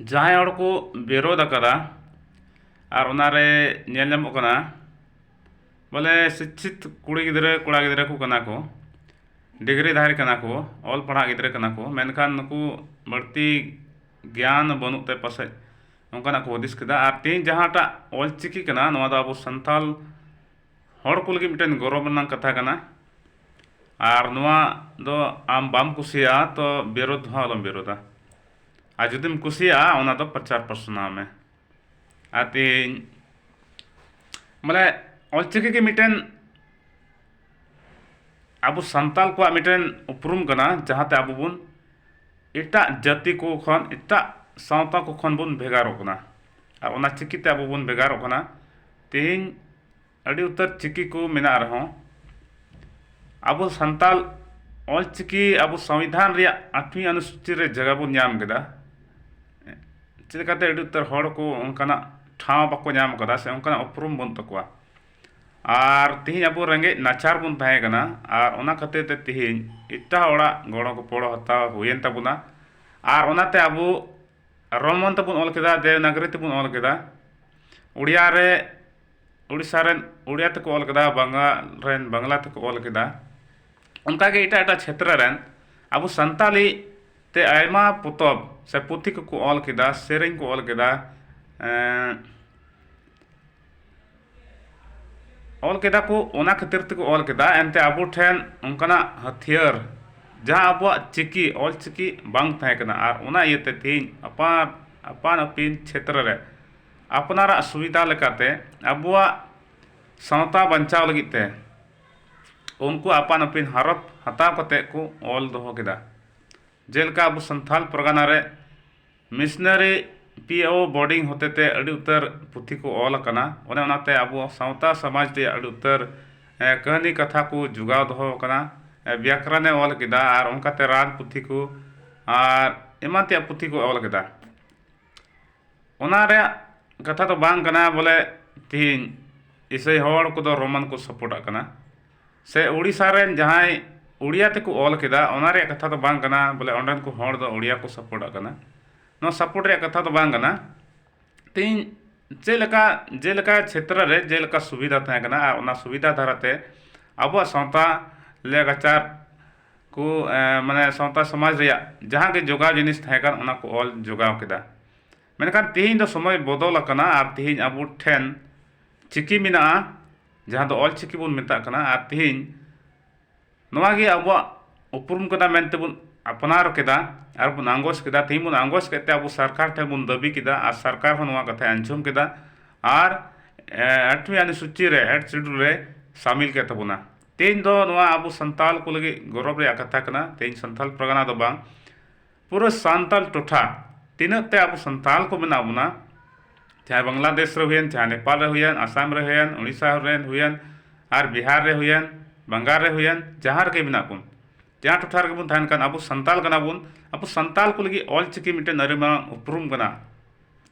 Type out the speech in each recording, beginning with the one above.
ᱡᱟᱦᱟᱸᱭ ᱦᱚᱲ ᱠᱚ ᱵᱤᱨᱳᱫ ᱟᱠᱟᱫᱟ ᱟᱨ ᱚᱱᱟ ᱨᱮ ᱧᱮᱞ ᱧᱟᱢᱚᱜ ᱠᱟᱱᱟ ᱵᱚᱞᱮ ᱥᱤᱪᱪᱷᱤᱛ ᱠᱩᱲᱤ ᱜᱤᱫᱽᱨᱟᱹ ᱠᱚᱲᱟ ᱜᱤᱫᱽᱨᱟᱹ ᱠᱚ ᱠᱟᱱᱟ ᱠᱚ ᱰᱤᱜᱽᱨᱤ ᱫᱷᱟᱨᱤ ᱠᱟᱱᱟ ᱠᱚ ᱚᱞ ᱯᱟᱲᱦᱟᱜ ᱜᱤᱫᱽᱨᱟᱹ ᱠᱟᱱᱟ ᱠᱚ ᱢᱮᱱᱠᱷᱟᱱ ᱱᱩᱠᱩ ᱵᱟᱹᱲᱛᱤ ᱜᱮᱭᱟᱱ ᱵᱟᱹᱱᱩᱜ ᱛᱮ ᱯᱟᱥᱮᱡ ᱚᱱᱠᱟᱱᱟᱜ ᱠᱚ ᱦᱩᱫᱤᱥ ᱠᱮᱫᱟ ᱟᱨ ᱛᱮᱦᱤᱧ ᱡᱟᱦᱟᱸᱴᱟᱜ ᱚᱞ ᱪᱤᱠᱤ ᱠᱟᱱᱟ ᱱᱚᱣᱟ ᱫᱚ ᱟᱵᱚ ᱥᱟᱱᱛᱟᱲ ᱦᱚᱲ ᱠᱚ ᱞᱟᱹᱜᱤᱫ ᱢᱤᱫᱴᱮᱱ ᱜᱚᱨᱚᱵᱽ ᱨᱮᱱᱟᱜ ᱠᱟᱛᱷᱟ ᱠᱟᱱᱟ ᱟᱨ ᱱᱚᱣᱟ ᱫᱚ ᱟᱢ ᱵᱟᱢ ᱠᱩᱥᱤᱭᱟᱜᱼᱟ ᱛᱚ ᱵᱤᱨᱳᱫ ᱦᱚᱸ ᱟᱞᱚᱢ ᱵᱤᱨᱳᱫᱟ ᱟᱨ ᱡᱩᱫᱤᱢ ᱠᱩᱥᱤᱭᱟᱜᱼᱟ ᱚᱱᱟ ᱫᱚ ᱯᱨᱚᱪᱟᱨ ᱯᱟᱥᱱᱟᱣ ᱢᱮ ᱟᱨ ᱛᱮᱦᱮᱧ ᱢᱟᱱᱮ ᱚᱞᱪᱤᱠᱤ ᱜᱮ ᱢᱤᱫᱴᱮᱱ ᱟᱵᱚ ᱥᱟᱱᱛᱟᱲ ᱠᱚᱣᱟᱜ ᱢᱤᱫᱴᱮᱱ ᱩᱯᱨᱩᱢ ᱠᱟᱱᱟ ᱡᱟᱦᱟᱸᱛᱮ ᱟᱵᱚ ᱵᱚᱱ ᱮᱴᱟᱜ ᱡᱟᱹᱛᱤ ᱠᱚ ᱠᱷᱚᱱ ᱮᱴᱟᱜ ᱥᱟᱶᱛᱟ ᱠᱚ ᱠᱷᱚᱱ ᱵᱚᱱ ᱵᱷᱮᱜᱟᱨᱚᱜ ᱠᱟᱱᱟ ᱟᱨ ᱚᱱᱟ ᱪᱤᱠᱤᱛᱮ ᱟᱵᱚ ᱵᱚᱱ ᱵᱷᱮᱜᱟᱨᱚᱜ ᱠᱟᱱᱟ ᱛᱮᱦᱮᱧ ᱟᱹᱰᱤ ᱩᱛᱟᱹᱨ ᱪᱤᱠᱤ ᱠᱚ ᱢᱮᱱᱟᱜ ᱨᱮᱦᱚᱸ ᱟᱵᱚ ᱥᱟᱱᱛᱟᱲ ᱚᱞ ᱪᱤᱠᱤ ᱟᱵᱚ ᱥᱚᱝᱵᱤᱫᱷᱟᱱ ᱨᱮᱭᱟᱜ ᱟᱴᱷᱣᱤ ᱟᱱᱩᱥᱩᱪᱤ ᱨᱮ ᱡᱟᱭᱜᱟ ᱵᱚᱱ ᱧᱟᱢ ᱠᱮᱫᱟ ᱪᱮᱫ ᱞᱮᱠᱟᱛᱮ ᱟᱹᱰᱤ ᱩᱛᱟᱹᱨ ᱦᱚᱲ ᱠᱚ ᱚᱱᱠᱟᱱᱟᱜ ᱴᱷᱟᱶ ᱵᱟᱠᱚ ᱧᱟᱢ ᱠᱟᱫᱟ ᱥᱮ ᱚᱱᱠᱟᱱᱟᱜ ᱩᱯᱨᱩᱢ ᱵᱟᱹᱱᱩᱜ ᱛᱟᱠᱚᱣᱟ ᱟᱨ ᱛᱮᱦᱤᱧ ᱟᱵᱚ ᱨᱮᱸᱜᱮᱡ ᱱᱟᱪᱟᱨ ᱵᱚᱱ ᱛᱟᱦᱮᱸ ᱠᱟᱱᱟ ᱟᱨ ᱚᱱᱟ ᱠᱷᱟᱹᱛᱤᱨ ᱛᱮ ᱛᱮᱦᱤᱧ ᱮᱴᱟᱜ ᱦᱚᱲᱟᱜ ᱜᱚᱲᱚ ᱜᱚᱯᱚᱲᱚ ᱦᱟᱛᱟᱣ ᱦᱩᱭᱮᱱ ᱛᱟᱵᱚᱱᱟ ᱟᱨ ᱚᱱᱟᱛᱮ ᱟᱵᱚ ᱨᱳᱢᱟᱱ ᱛᱮᱵᱚᱱ ᱚᱞ ᱠᱮᱫᱟ ᱫᱮᱵᱽᱱᱟᱜᱚᱨᱤ ᱛᱮᱵᱚᱱ ᱚᱞ ᱠᱮᱫᱟ ᱳᱰᱤᱭᱟ ᱨᱮ ᱩᱲᱤᱥᱥᱟ ᱨᱮᱱ ᱩᱲᱤᱭᱟ ᱛᱮᱠᱚ ᱚᱞ ᱠᱮᱫᱟ ᱵᱟᱝᱜᱟᱞ ᱨᱮᱱ ᱵᱟᱝᱞᱟ ᱛᱮᱠᱚ ᱚᱞ ᱠᱮᱫᱟ ᱚᱱᱠᱟ ᱜᱮ ᱮᱴᱟᱜ ᱮᱴᱟᱜ ᱪᱷᱮᱛᱨᱚ ᱨᱮᱱ ᱟᱵᱚ ᱥᱟᱱᱛᱟᱲᱤ ᱛᱮ ᱟᱭᱢᱟ ᱯᱚᱛᱚᱵ ᱥᱮ ᱯᱩᱛᱷᱤ ᱠᱚᱠᱚ ᱚᱞ ᱠᱮᱫᱟ ᱥᱮᱨᱮᱧ ᱠᱚ ᱚᱞ ᱠᱮᱫᱟ ᱚᱞ ᱠᱮᱫᱟ ᱠᱚ ᱚᱱᱟ ᱠᱷᱟᱹᱛᱤᱨ ᱛᱮᱠᱚ ᱚᱞ ᱠᱮᱫᱟ ᱮᱱᱛᱮ ᱟᱵᱚ ᱴᱷᱮᱱ ᱚᱱᱠᱟᱱᱟᱜ ᱦᱟᱹᱛᱭᱟᱹᱨ ᱡᱟᱦᱟᱸ ᱟᱵᱚᱣᱟᱜ ᱪᱤᱠᱤ ᱚᱞ ᱪᱤᱠᱤ ᱵᱟᱝ ᱛᱟᱦᱮᱸ ᱠᱟᱱᱟ ᱟᱨ ᱚᱱᱟ ᱤᱭᱟᱹᱛᱮ ᱛᱮᱦᱤᱧ ᱟᱯᱟᱱ ᱟᱯᱟᱱ ᱟᱹᱯᱤᱱ ᱪᱷᱮᱛᱨᱚ ᱨᱮ ᱟᱯᱱᱟᱨᱟᱜ ᱥᱩᱵᱤᱫᱷᱟ ᱞᱮᱠᱟᱛᱮ ᱟᱵᱚᱣᱟᱜ ᱥᱟᱶᱛᱟ ᱵᱟᱧᱪᱟᱣ ᱞᱟᱹᱜᱤᱫ ᱛᱮ ᱩᱱᱠᱩ ᱟᱯᱟᱱ ᱟᱹᱯᱤᱱ ᱦᱟᱨᱚᱯ ᱦᱟᱛᱟᱣ ᱠᱟᱛᱮᱫ ᱠᱚ ᱚᱞ ᱫᱚᱦᱚ ᱠᱮᱫᱟ ᱡᱮᱞᱮᱠᱟ ᱟᱵᱚ ᱥᱟᱱᱛᱟᱲ ᱯᱟᱨᱜᱟᱱᱟ ᱨᱮ ᱢᱤᱥᱱᱟᱹᱨᱤ ᱯᱤ ᱳ ᱵᱳᱰᱤᱝ ᱦᱚᱛᱮ ᱛᱮ ᱟᱹᱰᱤ ᱩᱛᱟᱹᱨ ᱯᱩᱛᱷᱤ ᱠᱚ ᱚᱞ ᱟᱠᱟᱱᱟ ᱚᱱᱮ ᱚᱱᱟᱛᱮ ᱟᱵᱚ ᱥᱟᱶᱛᱟ ᱥᱚᱢᱟᱡᱽ ᱨᱮᱭᱟᱜ ᱟᱹᱰᱤ ᱩᱛᱟᱹᱨ ᱠᱟᱹᱦᱱᱤ ᱠᱟᱛᱷᱟ ᱠᱚ ᱡᱳᱜᱟᱣ ᱫᱚᱦᱚ ᱟᱠᱟᱱᱟ ᱵᱮᱠᱨᱚᱱᱮ ᱚᱞ ᱠᱮᱫᱟ ᱟᱨ ᱚᱱᱠᱟᱛᱮ ᱨᱟᱱ ᱯᱩᱛᱷᱤ ᱠᱚ ᱟᱨ ᱮᱢᱟᱱ ᱛᱮᱭᱟᱜ ᱯᱩᱛᱷᱤ ᱠᱚ ᱚᱞ ᱠᱮᱫᱟ ᱚᱱᱟ ᱨᱮᱭᱟᱜ ᱠᱟᱛᱷᱟ ᱫᱚ ᱵᱟᱝ ᱠᱟᱱᱟ ᱵᱚᱞᱮ ᱛᱮᱦᱤᱧ ᱤᱥᱟᱹᱭ ᱦᱚᱲ ᱠᱚᱫᱚ ᱨᱳᱢᱟᱱ ᱠᱚ ᱥᱟᱯᱳᱨᱴᱟᱜ ᱠᱟᱱᱟ ᱥᱮ ᱳᱰᱤᱥᱟ ᱨᱮᱱ ᱡᱟᱦᱟᱸᱭ ᱳᱰᱤᱭᱟ ᱛᱮᱠᱚ ᱚᱞ ᱠᱮᱫᱟ ᱚᱱᱟ ᱨᱮᱭᱟᱜ ᱠᱟᱛᱷᱟ ᱫᱚ ᱵᱟᱝ ᱠᱟᱱᱟ ᱵᱚᱞᱮ ᱚᱸᱰᱮᱱ ᱠᱚ ᱦᱚᱲ ᱫᱚ ᱳᱰᱤᱭᱟ ᱠᱚ ᱥᱟᱯᱳᱨᱴᱟᱜ ᱠᱟᱱᱟ ᱱᱚᱣᱟ ᱥᱟᱯᱳᱨᱴ ᱨᱮᱭᱟᱜ ᱠᱟᱛᱷᱟ ᱫᱚ ᱵᱟᱝ ᱠᱟᱱᱟ ᱛᱮᱦᱤᱧ ᱪᱮᱫ ᱞᱮᱠᱟ ᱡᱮᱞᱮᱠᱟ ᱪᱷᱮᱛᱨᱚ ᱨᱮ ᱡᱮᱞᱮᱠᱟ ᱥᱩᱵᱤᱫᱷᱟ ᱛᱟᱦᱮᱸ ᱠᱟᱱᱟ ᱟᱨ ᱚᱱᱟ ᱥᱩᱵᱤᱫᱷᱟ ᱫᱟᱨᱟᱭ ᱛᱮ ᱟᱵᱚᱣᱟᱜ ᱥᱟᱶᱛᱟ ᱞᱮᱼᱞᱟᱠᱪᱟᱨ ᱠᱚ ᱢᱟᱱᱮ ᱥᱟᱶᱛᱟ ᱥᱚᱢᱟᱡᱽ ᱨᱮᱭᱟᱜ ᱡᱟᱦᱟᱸ ᱜᱮ ᱡᱚᱜᱟᱣ ᱡᱤᱱᱤᱥ ᱛᱟᱦᱮᱸ ᱠᱟᱱ ᱚᱱᱟ ᱠᱚ ᱚᱞ ᱡᱚᱜᱟᱣ ᱠᱮᱫᱟ ᱢᱮᱱᱠᱷᱟᱱ ᱛᱮᱦᱮᱧ ᱫᱚ ᱥᱚᱢᱚᱭ ᱵᱚᱫᱚᱞ ᱟᱠᱟᱱᱟ ᱟᱨ ᱛᱮᱦᱮᱧ ᱟᱵᱚ ᱴᱷᱮᱱ ᱪᱤᱠᱤ ᱢᱮᱱᱟᱜᱼᱟ ᱡᱟᱦᱟᱸ ᱫᱚ ᱚᱞ ᱪᱤᱠᱤ ᱵᱚᱱ ᱢᱮᱛᱟᱜ ᱠᱟᱱᱟ ᱟᱨ ᱛᱮᱦᱮᱧ ᱱᱚᱣᱟ ᱜᱮ ᱟᱵᱚᱣᱟᱜ ᱩᱯᱨᱩᱢ ᱠᱟᱱᱟ ᱢᱮᱱᱛᱮ ᱵᱚᱱ ᱟᱯᱱᱟᱨ ᱠᱮᱫᱟ ᱟᱨ ᱵᱚᱱ ᱟᱸᱜᱚᱪ ᱠᱮᱫᱟ ᱛᱮᱦᱮᱧ ᱵᱚᱱ ᱟᱸᱜᱚᱪ ᱠᱮᱫ ᱛᱮ ᱟᱵᱚ ᱥᱚᱨᱠᱟᱨ ᱴᱷᱮᱱ ᱵᱚᱱ ᱫᱟᱹᱵᱤ ᱠᱮᱫᱟ ᱟᱨ ᱥᱚᱨᱠᱟᱨ ᱦᱚᱸ ᱱᱚᱣᱟ ᱠᱟᱛᱷᱟᱭ ᱟᱸᱡᱚᱢ ᱠᱮᱫᱟ ᱟᱨ ᱟᱴᱷᱣᱤ ᱟᱹᱱᱩᱥᱩᱪᱤ ᱨᱮ ᱮᱰ ᱥᱤᱰᱩᱞ ᱨᱮ ᱥᱟᱹᱢᱤᱞ ᱠᱮᱫ ᱛᱟᱵᱚᱱᱟ ᱛᱮᱦᱮᱧ ᱫᱚ ᱱᱚᱣᱟ ᱟᱵᱚ ᱥᱟᱱᱛᱟᱲ ᱠᱚ ᱞᱟᱹᱜᱤᱫ ᱜᱚᱨᱚᱵᱽ ᱨᱮᱭᱟᱜ ᱠᱟᱛᱷᱟ ᱠᱟᱱᱟ ᱛᱮᱦᱮᱧ ᱥᱟᱱᱛᱟᱲ ᱯᱟᱨᱜᱟᱱᱟ ᱫᱚ ᱵᱟᱝ ᱯᱩᱨᱟᱹ ᱥᱟᱱᱛᱟᱲ ᱴᱚᱴᱷᱟ ᱛᱤᱱᱟᱹᱜ ᱛᱮ ᱟᱵᱚ ᱥᱟᱱᱛᱟᱲ ᱠᱚ ᱢᱮᱱᱟᱜ ᱵᱚᱱᱟ ᱪᱟᱦᱮ ᱵᱟᱝᱞᱟᱫᱮᱥ ᱨᱮ ᱦᱩᱭᱮᱱ ᱪᱟᱦᱮ ᱱᱮᱯᱟᱞ ᱨᱮ ᱦᱩᱭᱮᱱ ᱟᱥᱟᱢ ᱨᱮ ᱦᱩᱭᱮᱱ ᱩᱲᱤᱥᱥᱟ ᱨᱮ ᱦᱩᱭᱮᱱ ᱟᱨ ᱵᱤᱦᱟᱨ ᱨᱮ ᱦᱩᱭᱮᱱ ᱵᱟᱝᱜᱟᱞ ᱨᱮ ᱦᱩᱭᱮᱱ ᱡᱟᱦᱟᱸ ᱨᱮᱜᱮ ᱢᱮᱱᱟᱜ ᱵᱚᱱ ᱡᱟᱦᱟᱸ ᱴᱚᱴᱷᱟ ᱨᱮᱜᱮ ᱵᱚᱱ ᱛᱟᱦᱮᱱ ᱠᱟᱱ ᱟᱵᱚ ᱥᱟᱱᱛᱟᱲ ᱠᱟᱱᱟ ᱵᱚᱱ ᱟᱵᱚ ᱥᱟᱱᱛᱟᱲ ᱠᱚ ᱞᱟᱹᱜᱤᱫ ᱚᱞᱪᱤᱠᱤ ᱢᱤᱫᱴᱮᱱ ᱟᱹᱰᱤ ᱢᱟᱨᱟᱝ ᱩᱯᱨᱩᱢ ᱠᱟᱱᱟ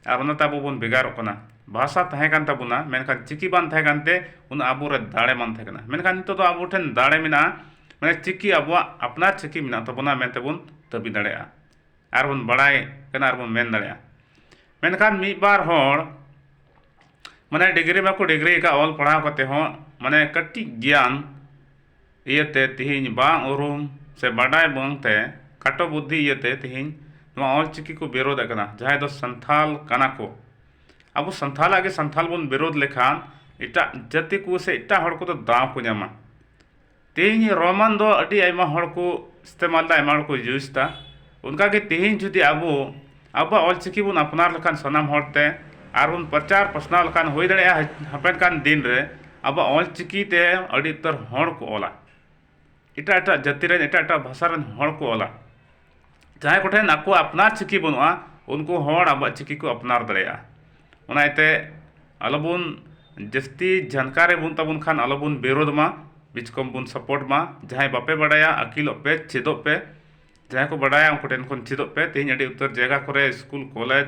ᱟᱨ ᱚᱱᱟᱛᱮ ᱟᱵᱚ ᱵᱚᱱ ᱵᱷᱮᱜᱟᱨᱚᱜ ᱠᱟᱱᱟ ᱵᱷᱟᱥᱟ ᱛᱟᱦᱮᱸ ᱠᱟᱱ ᱛᱟᱵᱚᱱᱟ ᱢᱮᱱᱠᱷᱟᱱ ᱪᱤᱠᱤ ᱵᱟᱝ ᱛᱟᱦᱮᱸ ᱠᱟᱱᱛᱮ ᱩᱱᱟᱹᱜ ᱟᱵᱚ ᱨᱮ ᱫᱟᱲᱮ ᱵᱟᱝ ᱛᱟᱦᱮᱸ ᱠᱟᱱᱟ ᱢᱮᱱᱠᱷᱟᱱ ᱱᱤᱛᱚᱜ ᱫᱚ ᱟᱵᱚ ᱴᱷᱮᱱ ᱫᱟᱲᱮ ᱢᱮᱱᱟᱜᱼᱟ ᱢᱟᱱᱮ ᱪᱤᱠᱤ ᱟᱵᱚᱣᱟᱜ ᱟᱯᱱᱟᱨ ᱪᱤᱠᱤ ᱢᱮᱱᱟᱜ ᱛᱟᱵᱚᱱᱟ ᱢᱮᱱᱛᱮ ᱵᱚᱱ ᱫᱟᱹᱵᱤ ᱫᱟᱲᱮᱭᱟᱜᱼᱟ ᱟᱨ ᱵᱚᱱ ᱵᱟᱲᱟᱭ ᱠᱟᱱᱟ ᱟᱨ ᱵᱚᱱ ᱢᱮᱱ ᱫᱟᱲᱮᱭᱟᱜᱼᱟ ᱢᱮᱱᱠᱷᱟᱱ ᱢᱤᱫ ᱵᱟᱨ ᱦᱚᱲ ᱢᱟᱱᱮ ᱰᱤᱜᱽᱨᱤ ᱢᱟᱠᱚ ᱰᱤᱜᱽᱨᱤ ᱟᱠᱟᱫ ᱚᱞ ᱯᱟᱲᱦᱟᱣ ᱠᱟᱛᱮᱫ ᱦᱚᱸ ᱢᱟᱱᱮ ᱠᱟᱹᱴᱤᱡ ᱜᱮᱭᱟᱱ ᱤᱭᱟᱹᱛᱮ ᱛᱤᱦᱤᱧ ᱵᱟᱝ ᱩᱨᱩᱢ ᱥᱮ ᱵᱟᱰᱟᱭ ᱵᱟᱝ ᱛᱮ ᱠᱷᱟᱴᱚ ᱵᱩᱫᱽᱫᱷᱤ ᱤᱭᱟᱹᱛᱮ ᱛᱤᱦᱤᱧ ᱱᱚᱣᱟ ᱚᱞ ᱪᱤᱠᱤ ᱠᱚ ᱵᱤᱨᱳᱫᱷ ᱮᱫ ᱠᱟᱱᱟ ᱡᱟᱦᱟᱸᱭ ᱫᱚ ᱥᱟᱱᱛᱷᱟᱞ ᱠᱟᱱᱟ ᱠᱚ ᱟᱵᱚ ᱥᱟᱱᱛᱷᱟᱞᱟᱜ ᱜᱮ ᱥᱟᱱᱛᱷᱟᱞ ᱵᱚᱱ ᱵᱤᱨᱳᱫᱷ ᱞᱮᱠᱷᱟᱱ ᱮᱴᱟᱜ ᱡᱟᱹᱛᱤ ᱠᱚ ᱥᱮ ᱮᱴᱟᱜ ᱦᱚᱲ ᱠᱚᱫᱚ ᱫᱟᱣ ᱠᱚ ᱧᱟᱢᱟ ᱛᱤᱦᱤᱧ ᱨᱳᱢᱟᱱ ᱫᱚ ᱟᱹᱰᱤ ᱟᱭᱢᱟ ᱦᱚᱲ ᱠᱚ ᱤᱥᱛᱮᱢᱟᱞ ᱮᱫᱟ ᱟᱭᱢᱟ ᱦᱚᱲ ᱠᱚ ᱤᱭᱩᱡᱽ ᱮᱫᱟ ᱚᱱᱠᱟᱜᱮ ᱛᱤᱦᱤᱧ ᱡᱩᱫᱤ ᱟᱵᱚ ᱟᱵᱚᱣᱟᱜ ᱚᱞᱪᱤᱠᱤ ᱵᱚᱱ ᱟᱯᱱᱟᱨ ᱞᱮᱠᱷᱟᱱ ᱥᱟᱱᱟᱢ ᱦᱚᱲ ᱛᱮ ᱟᱨ ᱵᱚᱱ ᱯᱨᱚᱪᱟᱨ ᱯᱟᱥᱱᱟᱣ ᱞᱮᱠᱷᱟᱱ ᱦᱩᱭ ᱫᱟᱲᱮᱭᱟᱜᱼᱟ ᱦᱟᱯᱮᱱ ᱠᱟᱱ ᱫᱤᱱ ᱨᱮ ᱟᱵᱚᱣᱟᱜ ᱚᱞᱪᱤᱠᱤ ᱛᱮ ᱟᱹᱰᱤ ᱩᱛᱟᱹᱨ ᱦᱚᱲ ᱠᱚ ᱚᱞᱟ ᱮᱴᱟᱜ ᱮᱴᱟᱜ ᱡᱟᱹᱛᱤ ᱨᱮᱱ ᱮᱴᱟᱜ ᱮᱴᱟᱜ ᱵᱷᱟᱥᱟ ᱨᱮᱱ ᱦᱚᱲ ᱠᱚ ᱚᱞᱟ ᱡᱟᱦᱟᱸᱭ ᱠᱚᱴᱷᱮᱱ ᱟᱠᱚᱣᱟᱜ ᱟᱯᱱᱟᱨ ᱪᱤᱠᱤ ᱵᱟᱹᱱᱩᱜᱼᱟ ᱩᱱᱠᱩ ᱦᱚᱲ ᱟᱵᱚᱣᱟᱜ ᱪᱤᱠᱤ ᱠᱚ ᱟᱯᱱᱟᱨ ᱫᱟᱲᱮᱭᱟᱜᱼᱟ ᱚᱱᱟ ᱤᱭᱟᱹᱛᱮ ᱟᱞᱚ ᱵᱚᱱ ᱡᱟᱹᱥᱛᱤ ᱡᱟᱱᱠᱟᱨᱤ ᱵᱟᱹᱱᱩᱜ ᱛᱟᱵᱚᱱ ᱠᱷᱟᱱ ᱟᱞᱚ ᱵᱚᱱ ᱵᱤᱨᱳᱫᱷ ᱢᱟ ᱵᱤᱪᱠᱚᱢ ᱵᱚᱱ ᱥᱟᱯᱳᱨᱴ ᱢᱟ ᱡᱟᱦᱟᱸᱭ ᱵᱟᱯᱮ ᱵᱟᱲᱟᱭᱟ ᱟᱹᱠᱤᱞᱚᱜ ᱯᱮ ᱪᱮᱫᱚᱜ ᱯᱮ ᱡᱟᱦᱟᱸᱭ ᱠᱚ ᱵᱟᱰᱟᱭᱟ ᱩᱱᱠᱩ ᱴᱷᱮᱱ ᱠᱷᱚᱱ ᱪᱮᱫᱚᱜ ᱯᱮ ᱛᱮᱦᱮᱧ ᱟᱹᱰᱤ ᱩᱛᱟᱹᱨ ᱡᱟᱭᱜᱟ ᱠᱚᱨᱮ ᱥᱠᱩᱞ ᱠᱚᱞᱮᱡᱽ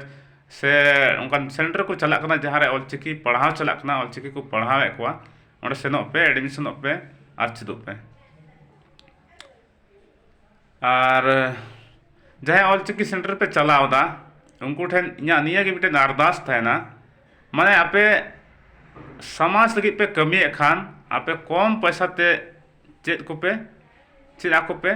ᱥᱮ ᱚᱱᱠᱟᱱ ᱥᱮᱱᱴᱟᱨ ᱠᱚ ᱪᱟᱞᱟᱜ ᱠᱟᱱᱟ ᱡᱟᱦᱟᱸ ᱨᱮ ᱚᱞ ᱪᱤᱠᱤ ᱯᱟᱲᱦᱟᱣ ᱪᱟᱞᱟᱜ ᱠᱟᱱᱟ ᱚᱞ ᱪᱤᱠᱤ ᱠᱚ ᱯᱟᱲᱦᱟᱣᱮᱫ ᱠᱚᱣᱟ ᱚᱸᱰᱮ ᱥᱮᱱᱚᱜ ᱯᱮ ᱮᱰᱢᱤᱥᱚᱱᱚᱜ ᱯᱮ ᱟᱨ ᱪᱮᱫᱚᱜ ᱯᱮ ᱟᱨ ᱡᱟᱦᱟᱸᱭ ᱚᱞ ᱪᱤᱠᱤ ᱥᱮᱱᱴᱟᱨ ᱯᱮ ᱪᱟᱞᱟᱣᱫᱟ ᱩᱱᱠᱩ ᱴᱷᱮᱱ ᱤᱧᱟᱹᱜ ᱱᱤᱭᱟᱹ ᱜᱮ ᱢᱤᱫᱴᱮᱱ ᱟᱨᱫᱟᱥ ᱛᱟᱦᱮᱱᱟ ᱢᱟᱱᱮ ᱟᱯᱮ ᱥᱚᱢᱟᱡᱽ ᱞᱟᱹᱜᱤᱫ ᱯᱮ ᱠᱟᱹᱢᱤᱭᱮᱫ ᱠᱷᱟᱱ ᱟᱯᱮ ᱠᱚᱢ ᱯᱚᱭᱥᱟ ᱛᱮ ᱪᱮᱫ ᱠᱚᱯᱮ ᱪᱮᱫ ᱟᱠᱚ ᱯᱮ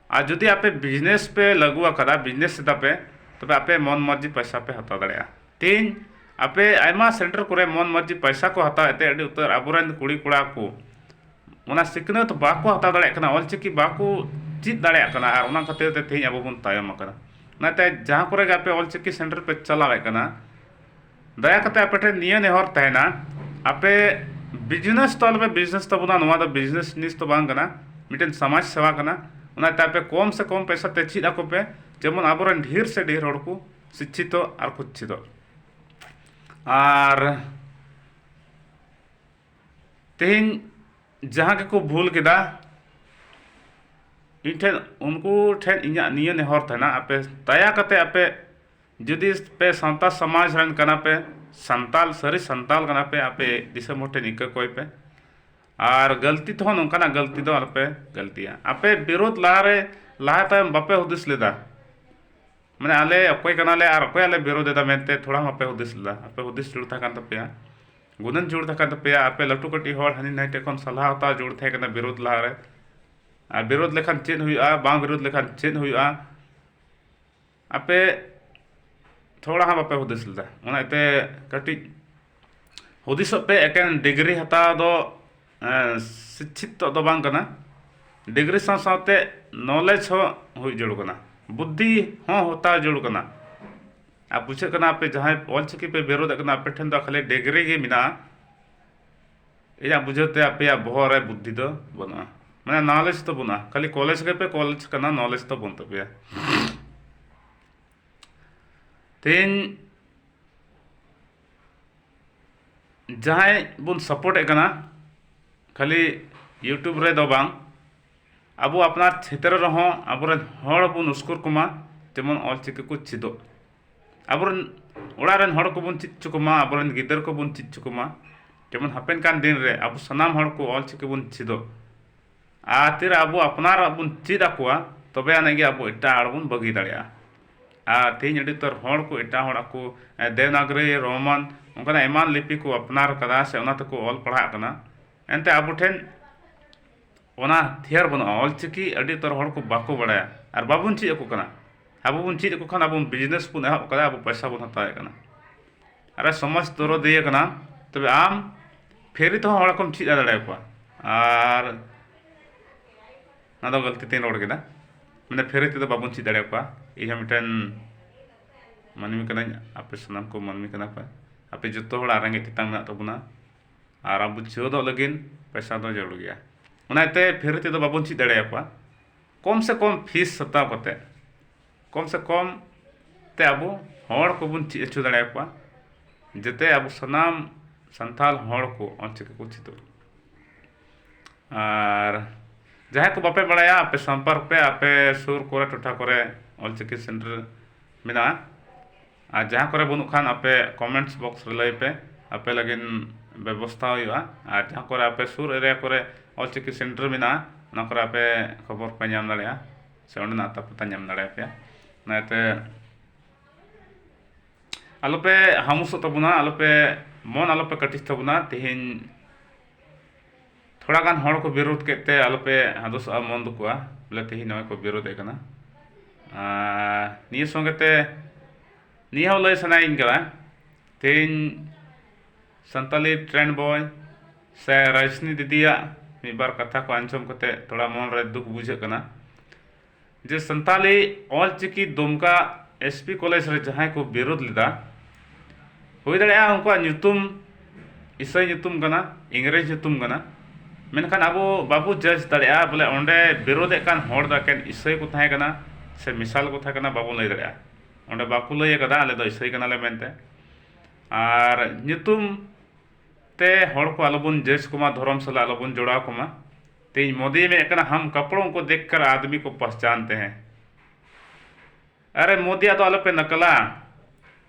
ᱟᱨ ᱡᱩᱫᱤ ᱟᱯᱮ ᱵᱤᱡᱽᱱᱮᱥ ᱯᱮ ᱞᱟᱹᱜᱩ ᱟᱠᱟᱫᱟ ᱵᱤᱡᱽᱱᱮᱥ ᱮᱫᱟ ᱯᱮ ᱛᱚᱵᱮ ᱟᱯᱮ ᱢᱚᱱ ᱢᱚᱨᱡᱤ ᱯᱚᱭᱥᱟ ᱯᱮ ᱦᱟᱛᱟᱣ ᱫᱟᱲᱮᱭᱟᱜᱼᱟ ᱛᱮᱦᱮᱧ ᱟᱯᱮ ᱟᱭᱢᱟ ᱥᱮᱱᱴᱟᱨ ᱠᱚᱨᱮ ᱢᱚᱱ ᱢᱚᱨᱡᱤ ᱯᱚᱭᱥᱟ ᱠᱚ ᱦᱟᱛᱟᱣ ᱮᱫ ᱛᱮ ᱟᱹᱰᱤ ᱩᱛᱟᱹᱨ ᱟᱵᱚ ᱨᱮᱱ ᱠᱩᱲᱤ ᱠᱚᱲᱟ ᱠᱚ ᱚᱱᱟ ᱥᱤᱠᱷᱱᱟᱹᱛ ᱵᱟᱠᱚ ᱦᱟᱛᱟᱣ ᱫᱟᱲᱮᱭᱟᱜ ᱠᱟᱱᱟ ᱚᱞ ᱪᱤᱠᱤ ᱵᱟᱠᱚ ᱪᱮᱫ ᱫᱟᱲᱮᱭᱟᱜ ᱠᱟᱱᱟ ᱟᱨ ᱚᱱᱟ ᱠᱷᱟᱹᱛᱤᱨ ᱛᱮ ᱛᱮᱦᱮᱧ ᱟᱵᱚ ᱵᱚᱱ ᱛᱟᱭᱚᱢ ᱟᱠᱟᱱᱟ ᱚᱱᱟᱛᱮ ᱡᱟᱦᱟᱸ ᱠᱚᱨᱮ ᱜᱮ ᱟᱯᱮ ᱚᱞ ᱪᱤᱠᱤ ᱥᱮᱱᱴᱟᱨ ᱯᱮ ᱪᱟᱞᱟᱣᱮᱫ ᱠᱟᱱᱟ ᱫᱟᱭᱟ ᱠᱟᱛᱮ ᱟᱯᱮ ᱴᱷᱮᱱ ᱱᱤᱭᱟᱹ ᱱᱮᱦᱚᱨ ᱛᱟᱦᱮᱱᱟ ᱟᱯᱮ ᱵᱤᱡᱽᱱᱮᱥ ᱫᱚ ᱟᱞᱚᱯᱮ ᱵᱤᱡᱽᱱᱮᱥ ᱛᱟᱵᱚᱱᱟ ᱱᱚᱣᱟ ᱫᱚ ᱵᱤᱡᱽᱱᱮᱥ ᱡᱤᱱᱤᱥ ᱫᱚ ᱵᱟᱝ ᱠᱟᱱᱟ ᱢᱤᱫᱴᱮᱱ ᱥᱚᱢᱟᱡᱽ ᱥᱮᱵᱟ ᱠᱟᱱᱟ ᱚᱱᱟᱛᱮ ᱟᱯᱮ ᱠᱚᱢ ᱥᱮ ᱠᱚᱢ ᱯᱚᱭᱥᱟ ᱛᱮ ᱪᱮᱫ ᱟᱠᱚ ᱯᱮ ᱡᱮᱢᱚᱱ ᱟᱵᱚ ᱨᱮᱱ ᱰᱷᱮᱨ ᱥᱮ ᱰᱷᱮᱨ ᱦᱚᱲ ᱠᱚ ᱥᱤᱪᱪᱷᱤᱛᱚᱜ ᱟᱨ ᱠᱚ ᱪᱮᱫᱚᱜ ᱟᱨ ᱛᱮᱦᱮᱧ ᱡᱟᱦᱟᱸ ᱜᱮᱠᱚ ᱵᱷᱩᱞ ᱠᱮᱫᱟ ᱤᱧ ᱴᱷᱮᱱ ᱩᱱᱠᱩ ᱴᱷᱮᱱ ᱤᱧᱟᱹᱜ ᱱᱤᱭᱟᱹ ᱱᱮᱦᱚᱨ ᱛᱟᱦᱮᱱᱟ ᱟᱯᱮ ᱫᱟᱭᱟ ᱠᱟᱛᱮ ᱟᱯᱮ ᱡᱩᱫᱤ ᱯᱮ ᱥᱟᱶᱛᱟ ᱥᱚᱢᱟᱡᱽ ᱨᱮᱱ ᱠᱟᱱᱟ ᱯᱮ ᱥᱟᱱᱛᱟᱲ ᱥᱟᱹᱨᱤ ᱥᱟᱱᱛᱟᱲ ᱠᱟᱱᱟ ᱯᱮ ᱟᱯᱮ ᱫᱤᱥᱚᱢ ᱦᱚᱲ ᱴᱷᱮᱱ ᱤᱠᱟᱹ ᱠᱚᱭ ᱯᱮ ᱟᱨ ᱜᱟᱹᱞᱛᱤ ᱛᱮᱦᱚᱸ ᱱᱚᱝᱠᱟᱱᱟᱜ ᱜᱟᱹᱞᱛᱤ ᱫᱚ ᱟᱞᱚ ᱯᱮ ᱜᱟᱹᱞᱛᱤᱭᱟ ᱟᱯᱮ ᱵᱤᱨᱳᱫᱷ ᱞᱟᱦᱟ ᱨᱮ ᱞᱟᱦᱟ ᱛᱟᱭᱚᱢ ᱵᱟᱯᱮ ᱦᱩᱫᱤᱥ ᱞᱮᱫᱟ ᱢᱟᱱᱮ ᱟᱞᱮ ᱚᱠᱚᱭ ᱠᱟᱱᱟ ᱞᱮ ᱟᱨ ᱚᱠᱚᱭᱟᱜ ᱞᱮ ᱵᱤᱨᱳᱫᱷ ᱮᱫᱟ ᱢᱮᱱᱛᱮ ᱛᱷᱚᱲᱟ ᱦᱚᱸ ᱵᱟᱯᱮ ᱦᱩᱫᱤᱥ ᱞᱮᱫᱟ ᱟᱯᱮ ᱦᱩᱫᱤᱥ ᱡᱟᱹᱨᱩᱲ ᱛᱟᱦᱮᱸ ᱠᱟᱱ ᱛᱟᱯᱮᱭᱟ ᱜᱩᱱᱟᱹᱱ ᱡᱟᱹᱨᱩᱲ ᱛᱟᱦᱮᱸ ᱠᱟᱱ ᱛᱟᱯᱮᱭᱟ ᱟᱯᱮ ᱞᱟᱹᱴᱩ ᱠᱟᱹᱴᱤᱡ ᱦᱚᱲ ᱦᱟᱹᱱᱤ ᱱᱟᱹᱭ ᱴᱷᱮᱱ ᱠᱷᱚᱱ ᱥᱟᱞᱦᱟ ᱦᱟᱛᱟᱣ ᱡᱟᱹᱨᱩᱲ ᱛᱟᱦᱮᱸ ᱠᱟᱱᱟ ᱵᱤᱨᱳᱫᱷ ᱞᱟᱦᱟ ᱨᱮ ᱟᱨ ᱵᱤᱨᱳᱫᱷ ᱞᱮᱠᱷᱟᱱ ᱪᱮᱫ ᱦᱩᱭᱩᱜᱼᱟ ᱵᱟᱝ ᱵᱤᱨᱳᱫᱷ ᱞᱮᱠᱷᱟᱱ ᱪᱮᱫ ᱦᱩᱭᱩᱜᱼᱟ ᱟᱯᱮ ᱛᱷᱚᱲᱟ ᱦᱚᱸ ᱵᱟᱯᱮ ᱦᱩᱫᱤᱥ ᱞᱮᱫᱟ ᱚᱱᱟ ᱤᱭᱟᱹᱛᱮ ᱠᱟᱹᱴᱤᱡ ᱦᱩᱫᱤᱥᱚᱜ ᱯᱮ ᱮᱠᱮᱱ ᱰᱤᱜᱽᱨᱤ ᱦᱟᱛᱟᱣ ᱫᱚ ᱥᱤᱪᱪᱷᱤᱛᱚᱜ ᱫᱚ ᱵᱟᱝ ᱠᱟᱱᱟ ᱰᱤᱜᱽᱨᱤ ᱥᱟᱶ ᱥᱟᱶᱛᱮ ᱱᱚᱞᱮᱡᱽ ᱦᱚᱸ ᱦᱩᱭ ᱡᱟᱹᱨᱩᱲ ᱠᱟᱱᱟ ᱵᱩᱫᱽᱫᱷᱤ ᱦᱚᱸ ᱦᱟᱛᱟᱣ ᱡᱟᱹᱨᱩᱲ ᱠᱟᱱᱟ ᱟᱨ ᱵᱩᱡᱷᱟᱹᱜ ᱠᱟᱱᱟ ᱟᱯᱮ ᱡᱟᱦᱟᱸᱭ ᱚᱞ ᱪᱤᱠᱤ ᱯᱮ ᱵᱤᱨᱳᱫᱮᱜ ᱠᱟᱱᱟ ᱟᱯᱮ ᱴᱷᱮᱱ ᱫᱚ ᱠᱷᱟᱹᱞᱤ ᱰᱤᱜᱽᱨᱤ ᱜᱮ ᱢᱮᱱᱟᱜᱼᱟ ᱤᱧᱟᱹᱜ ᱵᱩᱡᱷᱟᱹᱣ ᱛᱮ ᱟᱯᱮᱭᱟᱜ ᱵᱚᱦᱚᱜ ᱨᱮ ᱵᱩᱫᱽᱫᱷᱤ ᱫᱚ ᱵᱟᱹᱱᱩᱜᱼᱟ ᱢᱟᱱᱮ ᱱᱚᱞᱮᱡᱽ ᱫᱚ ᱵᱟᱹᱱᱩᱜᱼᱟ ᱠᱷᱟᱹᱞᱤ ᱠᱚᱞᱮᱡᱽ ᱨᱮᱯᱮ ᱠᱚᱞᱮᱡᱽ ᱠᱟᱱᱟ ᱱᱚᱞᱮᱡᱽ ᱫᱚ ᱵᱟᱹᱱᱩᱜ ᱛᱟᱯᱮᱭᱟ ᱛᱮᱦᱮᱧ ᱡᱟᱦᱟᱸᱭ ᱵᱚᱱ ᱥᱟᱯᱳᱨᱴ ᱮᱫ ᱠᱟᱱᱟ ᱠᱷᱟᱹᱞᱤ ᱤᱭᱩᱴᱩᱵᱽ ᱨᱮᱫᱚ ᱵᱟᱝ ᱟᱵᱚ ᱟᱯᱱᱟᱨ ᱪᱷᱮᱛᱨᱚ ᱨᱮᱦᱚᱸ ᱟᱵᱚᱨᱮᱱ ᱦᱚᱲ ᱵᱚᱱ ᱩᱥᱠᱩᱨ ᱠᱚᱢᱟ ᱡᱮᱢᱚᱱ ᱚᱞ ᱪᱤᱠᱤ ᱠᱚ ᱪᱮᱫᱚᱜ ᱟᱵᱚᱨᱮᱱ ᱚᱲᱟᱜ ᱨᱮᱱ ᱦᱚᱲ ᱠᱚᱵᱚᱱ ᱪᱮᱫ ᱦᱚᱪᱚ ᱠᱚᱢᱟ ᱟᱵᱚᱨᱮᱱ ᱜᱤᱫᱟᱹᱨ ᱠᱚᱵᱚᱱ ᱪᱮᱫ ᱦᱚᱪᱚ ᱠᱚᱢᱟ ᱡᱮᱢᱚᱱ ᱦᱟᱯᱮᱱ ᱠᱟᱱ ᱫᱤᱱ ᱨᱮ ᱟᱵᱚ ᱥᱟᱱᱟᱢ ᱦᱚᱲ ᱠᱚ ᱚᱞ ᱪᱤᱠᱤ ᱵᱚᱱ ᱪᱮᱫᱚᱜ ᱟᱨ ᱛᱤᱨᱮ ᱟᱵᱚ ᱟᱯᱱᱟᱨᱟᱜ ᱵᱚᱱ ᱪᱮᱫ ᱟᱠᱚᱣᱟ ᱛᱚᱵᱮ ᱟᱹᱱᱤᱡ ᱜᱮ ᱟᱵᱚ ᱮᱴᱟᱜ ᱦᱚᱲ ᱵᱚᱱ ᱵᱟᱹᱜᱤ ᱫᱟᱲᱮᱭᱟᱜᱼᱟ ᱟᱨ ᱛᱮᱦᱮᱧ ᱟᱹᱰᱤ ᱩᱛᱟᱹᱨ ᱦᱚᱲ ᱠᱚ ᱮᱴᱟᱜ ᱦᱚᱲᱟᱜ ᱠᱚ ᱫᱮᱵᱽᱱᱟᱜᱚᱨᱤ ᱨᱳᱢᱟᱱ ᱚᱱᱠᱟᱱᱟᱜ ᱟᱭᱢᱟ ᱞᱤᱯᱤ ᱠᱚ ᱟᱯᱱᱟᱨ ᱠᱟᱫᱟ ᱥᱮ ᱚᱱᱟ ᱛᱮᱠᱚ ᱚᱞ ᱯᱟᱲᱦᱟᱜ ᱠᱟᱱᱟ ᱮᱱᱛᱮ ᱟᱵᱚ ᱴᱷᱮᱱ ᱚᱱᱟ ᱦᱟᱛᱷᱭᱟᱨ ᱵᱟᱹᱱᱩᱜᱼᱟ ᱚᱞ ᱪᱤᱠᱤ ᱟᱹᱰᱤ ᱩᱛᱟᱹᱨ ᱦᱚᱲ ᱠᱚ ᱵᱟᱠᱚ ᱵᱟᱲᱟᱭᱟ ᱟᱨ ᱵᱟᱵᱚᱱ ᱪᱮᱫ ᱟᱠᱚ ᱠᱟᱱᱟ ᱟᱵᱚ ᱵᱚᱱ ᱪᱮᱫ ᱟᱠᱚ ᱠᱷᱟᱱ ᱟᱵᱚ ᱵᱤᱡᱽᱱᱮᱥ ᱵᱚᱱ ᱮᱦᱚᱵ ᱟᱠᱟᱫᱟ ᱟᱵᱚ ᱯᱚᱭᱥᱟ ᱵᱚᱱ ᱦᱟᱛᱟᱣᱮᱫ ᱠᱟᱱᱟ ᱟᱨ ᱥᱚᱢᱟᱡᱽ ᱫᱚᱨᱚᱫᱤᱭᱟᱹ ᱠᱟᱱᱟ ᱛᱚᱵᱮ ᱟᱢ ᱯᱷᱨᱤ ᱛᱮᱦᱚᱸ ᱦᱚᱲ ᱠᱚᱢ ᱪᱮᱫ ᱫᱟᱲᱮ ᱟᱠᱚᱣᱟ ᱟᱨ ᱚᱱᱟ ᱫᱚ ᱜᱟᱹᱞᱛᱤ ᱛᱤᱧ ᱨᱚᱲ ᱠᱮᱫᱟ ᱢᱟᱱᱮ ᱯᱷᱨᱤ ᱛᱮᱫᱚ ᱵᱟᱵᱚᱱ ᱪᱮᱫ ᱫᱟᱲᱮ ᱟᱠᱚᱣᱟ ᱤᱧ ᱦᱚᱸ ᱢᱤᱫᱴᱮᱱ ᱢᱟᱹᱱᱢᱤ ᱠᱟᱹᱱᱟᱹᱧ ᱟᱯᱮ ᱥᱟᱱᱟᱢ ᱠᱚ ᱢᱟᱹᱱᱢᱤ ᱠᱟᱱᱟ ᱯᱮ ᱟᱯᱮ ᱡᱚᱛᱚ ᱦᱚᱲᱟᱜ ᱨᱮᱸᱜᱮᱡ ᱛᱮᱛᱟᱝ ᱢᱮᱱᱟᱜ ᱛᱟᱵᱚᱱᱟ ᱟᱨ ᱟᱵᱚ ᱪᱮᱫᱚᱜ ᱞᱟᱹᱜᱤᱫ ᱯᱚᱭᱥᱟ ᱫᱚ ᱡᱟᱹᱨᱩᱲ ᱜᱮᱭᱟ ᱚᱱᱟ ᱤᱭᱟᱹᱛᱮ ᱯᱷᱨᱤ ᱛᱮᱫᱚ ᱵᱟᱵᱚᱱ ᱪᱮᱫ ᱫᱟᱲᱮ ᱟᱠᱚᱣᱟ ᱠᱚᱢ ᱥᱮ ᱠᱚᱢ ᱯᱷᱤᱥ ᱦᱟᱛᱟᱣ ᱠᱟᱛᱮᱫ ᱠᱚᱢ ᱥᱮ ᱠᱚᱢ ᱛᱮ ᱟᱵᱚ ᱦᱚᱲ ᱠᱚᱵᱚᱱ ᱪᱮᱫ ᱦᱚᱪᱚ ᱫᱟᱲᱮ ᱟᱠᱚᱣᱟ ᱡᱟᱛᱮ ᱟᱵᱚ ᱥᱟᱱᱟᱢ ᱥᱟᱱᱛᱟᱲ ᱦᱚᱲ ᱠᱚ ᱚᱞ ᱪᱤᱠᱤ ᱠᱚ ᱪᱮᱫᱚᱜ ᱟᱨ ᱡᱟᱦᱟᱸᱭ ᱠᱚ ᱵᱟᱯᱮ ᱵᱟᱲᱟᱭᱟ ᱟᱯᱮ ᱥᱚᱢᱯᱚᱨᱠ ᱯᱮ ᱟᱯᱮ ᱥᱩᱨ ᱠᱚᱨᱮ ᱴᱚᱴᱷᱟ ᱠᱚᱨᱮ ᱚᱞ ᱪᱤᱠᱤ ᱥᱮᱱᱴᱟᱨ ᱢᱮᱱᱟᱜᱼᱟ ᱟᱨ ᱡᱟᱦᱟᱸ ᱠᱚᱨᱮ ᱵᱟᱹᱱᱩᱜ ᱠᱷᱟᱱ ᱟᱯᱮ ᱠᱚᱢᱮᱱᱴᱥ ᱵᱚᱠᱥ ᱨᱮ ᱞᱟᱹᱭ ᱯᱮ ᱟᱯᱮ ᱞᱟᱹᱜᱤᱫ ᱵᱮᱵᱚᱥᱛᱷᱟ ᱦᱩᱭᱩᱜᱼᱟ ᱟᱨ ᱡᱟᱦᱟᱸ ᱠᱚᱨᱮ ᱟᱯᱮ ᱥᱩᱨ ᱮᱨᱤᱭᱟ ᱠᱚᱨᱮ ᱚᱞ ᱪᱤᱠᱤ ᱥᱮᱱᱴᱟᱨ ᱢᱮᱱᱟᱜᱼᱟ ᱚᱱᱟ ᱠᱚᱨᱮ ᱟᱯᱮ ᱠᱷᱚᱵᱚᱨ ᱯᱮ ᱧᱟᱢ ᱫᱟᱲᱮᱭᱟᱜᱼᱟ ᱥᱮ ᱚᱸᱰᱮᱱᱟᱜ ᱟᱛᱟ ᱯᱟᱛᱟ ᱧᱟᱢ ᱫᱟᱲᱮ ᱯᱮᱭᱟ ᱚᱱᱟᱛᱮ ᱟᱞᱚ ᱯᱮ ᱦᱟᱢᱩᱥᱚᱜ ᱛᱟᱵᱚᱱᱟ ᱟᱞᱚ ᱯᱮ ᱢᱚᱱ ᱟᱞᱚ ᱯᱮ ᱠᱟᱹᱴᱤᱡ ᱛᱟᱵᱚᱱᱟ ᱛᱮᱦᱮᱧ ᱛᱷᱚᱲᱟ ᱜᱟᱱ ᱦᱚᱲ ᱠᱚ ᱵᱤᱨᱳᱫᱷ ᱠᱮᱫ ᱛᱮ ᱟᱞᱚᱯᱮ ᱦᱟᱫᱚᱥᱚᱜᱼᱟ ᱢᱚᱱ ᱫᱩᱠᱩᱜᱼᱟ ᱵᱚᱞᱮ ᱛᱮᱦᱮᱧ ᱱᱚᱜᱼᱚᱭ ᱠᱚ ᱵᱤᱨᱳᱫᱷᱮᱫ ᱠᱟᱱᱟ ᱱᱤᱭᱟᱹ ᱥᱚᱸᱜᱮ ᱛᱮ ᱱᱤᱭᱟᱹ ᱦᱚᱸ ᱞᱟᱹᱭ ᱥᱟᱱᱟᱭᱤᱧ ᱠᱟᱱᱟ ᱛᱮᱦᱮᱧ ᱥᱟᱱᱛᱟᱞᱤ ᱴᱨᱮᱱᱰ ᱵᱚᱭ ᱥᱮ ᱨᱟᱡᱽᱱᱤ ᱫᱤᱫᱤᱭᱟᱜ ᱢᱤᱫ ᱵᱟᱨ ᱠᱟᱛᱷᱟ ᱠᱚ ᱟᱸᱡᱚᱢ ᱠᱟᱛᱮ ᱛᱷᱚᱲᱟ ᱢᱚᱱ ᱨᱮ ᱫᱩᱠ ᱵᱩᱡᱷᱟᱹᱜ ᱠᱟᱱᱟ ᱡᱮ Santali Ol Chiki Dumka S P college ᱨᱮ ᱡᱟᱦᱟᱸᱭ ᱠᱚ ᱵᱤᱨᱳᱫ ᱞᱮᱫᱟ ᱦᱩᱭ ᱫᱟᱲᱮᱭᱟᱜᱼᱟ ᱩᱱᱠᱩᱣᱟᱜ ᱧᱩᱛᱩᱢ ᱤᱥᱟᱹᱭ ᱧᱩᱛᱩᱢ ᱠᱟᱱᱟ ᱤᱝᱨᱮᱡᱽ ᱧᱩᱛᱩᱢ ᱠᱟᱱᱟ ᱢᱮᱱᱠᱷᱟᱱ ᱟᱵᱚ ᱵᱟᱵᱚ ᱡᱟᱡᱽ ᱫᱟᱲᱮᱭᱟᱜᱼᱟ ᱵᱚᱞᱮ ᱚᱸᱰᱮ ᱵᱤᱨᱳᱫᱮᱫ ᱠᱟᱱ ᱦᱚᱲ ᱫᱚ ᱮᱠᱮᱱ ᱤᱥᱟᱹᱭ ᱠᱚ ᱛᱟᱦᱮᱸ ᱠᱟᱱᱟ ᱥᱮ ᱢᱮᱥᱟᱞ ᱠᱚ ᱛᱟᱦᱮᱸ ᱠᱟᱱᱟ ᱵᱟᱵᱚ ᱞᱟᱹᱭ ᱫᱟᱲᱮᱭᱟᱜᱼᱟ ᱚᱸᱰᱮ ᱵᱟᱠᱚ ᱞᱟᱹᱭ ᱠᱟᱫᱟ ᱟᱞᱮ ᱫᱚ ᱤᱥᱟᱹᱭ ᱠᱟᱱᱟᱞᱮ ᱢᱮᱱᱛᱮ ᱟᱨ ᱧᱩᱛᱩᱢ ᱛᱮ ᱦᱚᱲ ᱠᱚ ᱟᱞᱚ ᱵᱚᱱ ᱡᱟᱡᱽ ᱠᱚᱢᱟ ᱫᱷᱚᱨᱚᱢ ᱥᱟᱞᱟᱜ ᱟᱞᱚ ᱵᱚᱱ ᱡᱚᱲᱟᱣ ᱠᱚᱢᱟ ᱛᱮᱦᱮᱧ ᱢᱳᱫᱤᱭ ᱢᱮᱱᱮᱫ ᱠᱟᱱᱟ ᱦᱟᱢ ᱠᱟᱯᱲᱚᱝ ᱠᱚ ᱫᱮᱠᱷ ᱠᱟᱨ ᱟᱫᱽᱢᱤ ᱠᱚ ᱯᱟᱦᱪᱟᱱᱛᱮ ᱦᱮᱸ ᱟᱨᱮ ᱢᱳᱫᱤᱭᱟᱜ ᱫᱚ ᱟᱞᱚᱯᱮ ᱱᱟᱠᱟᱞᱟ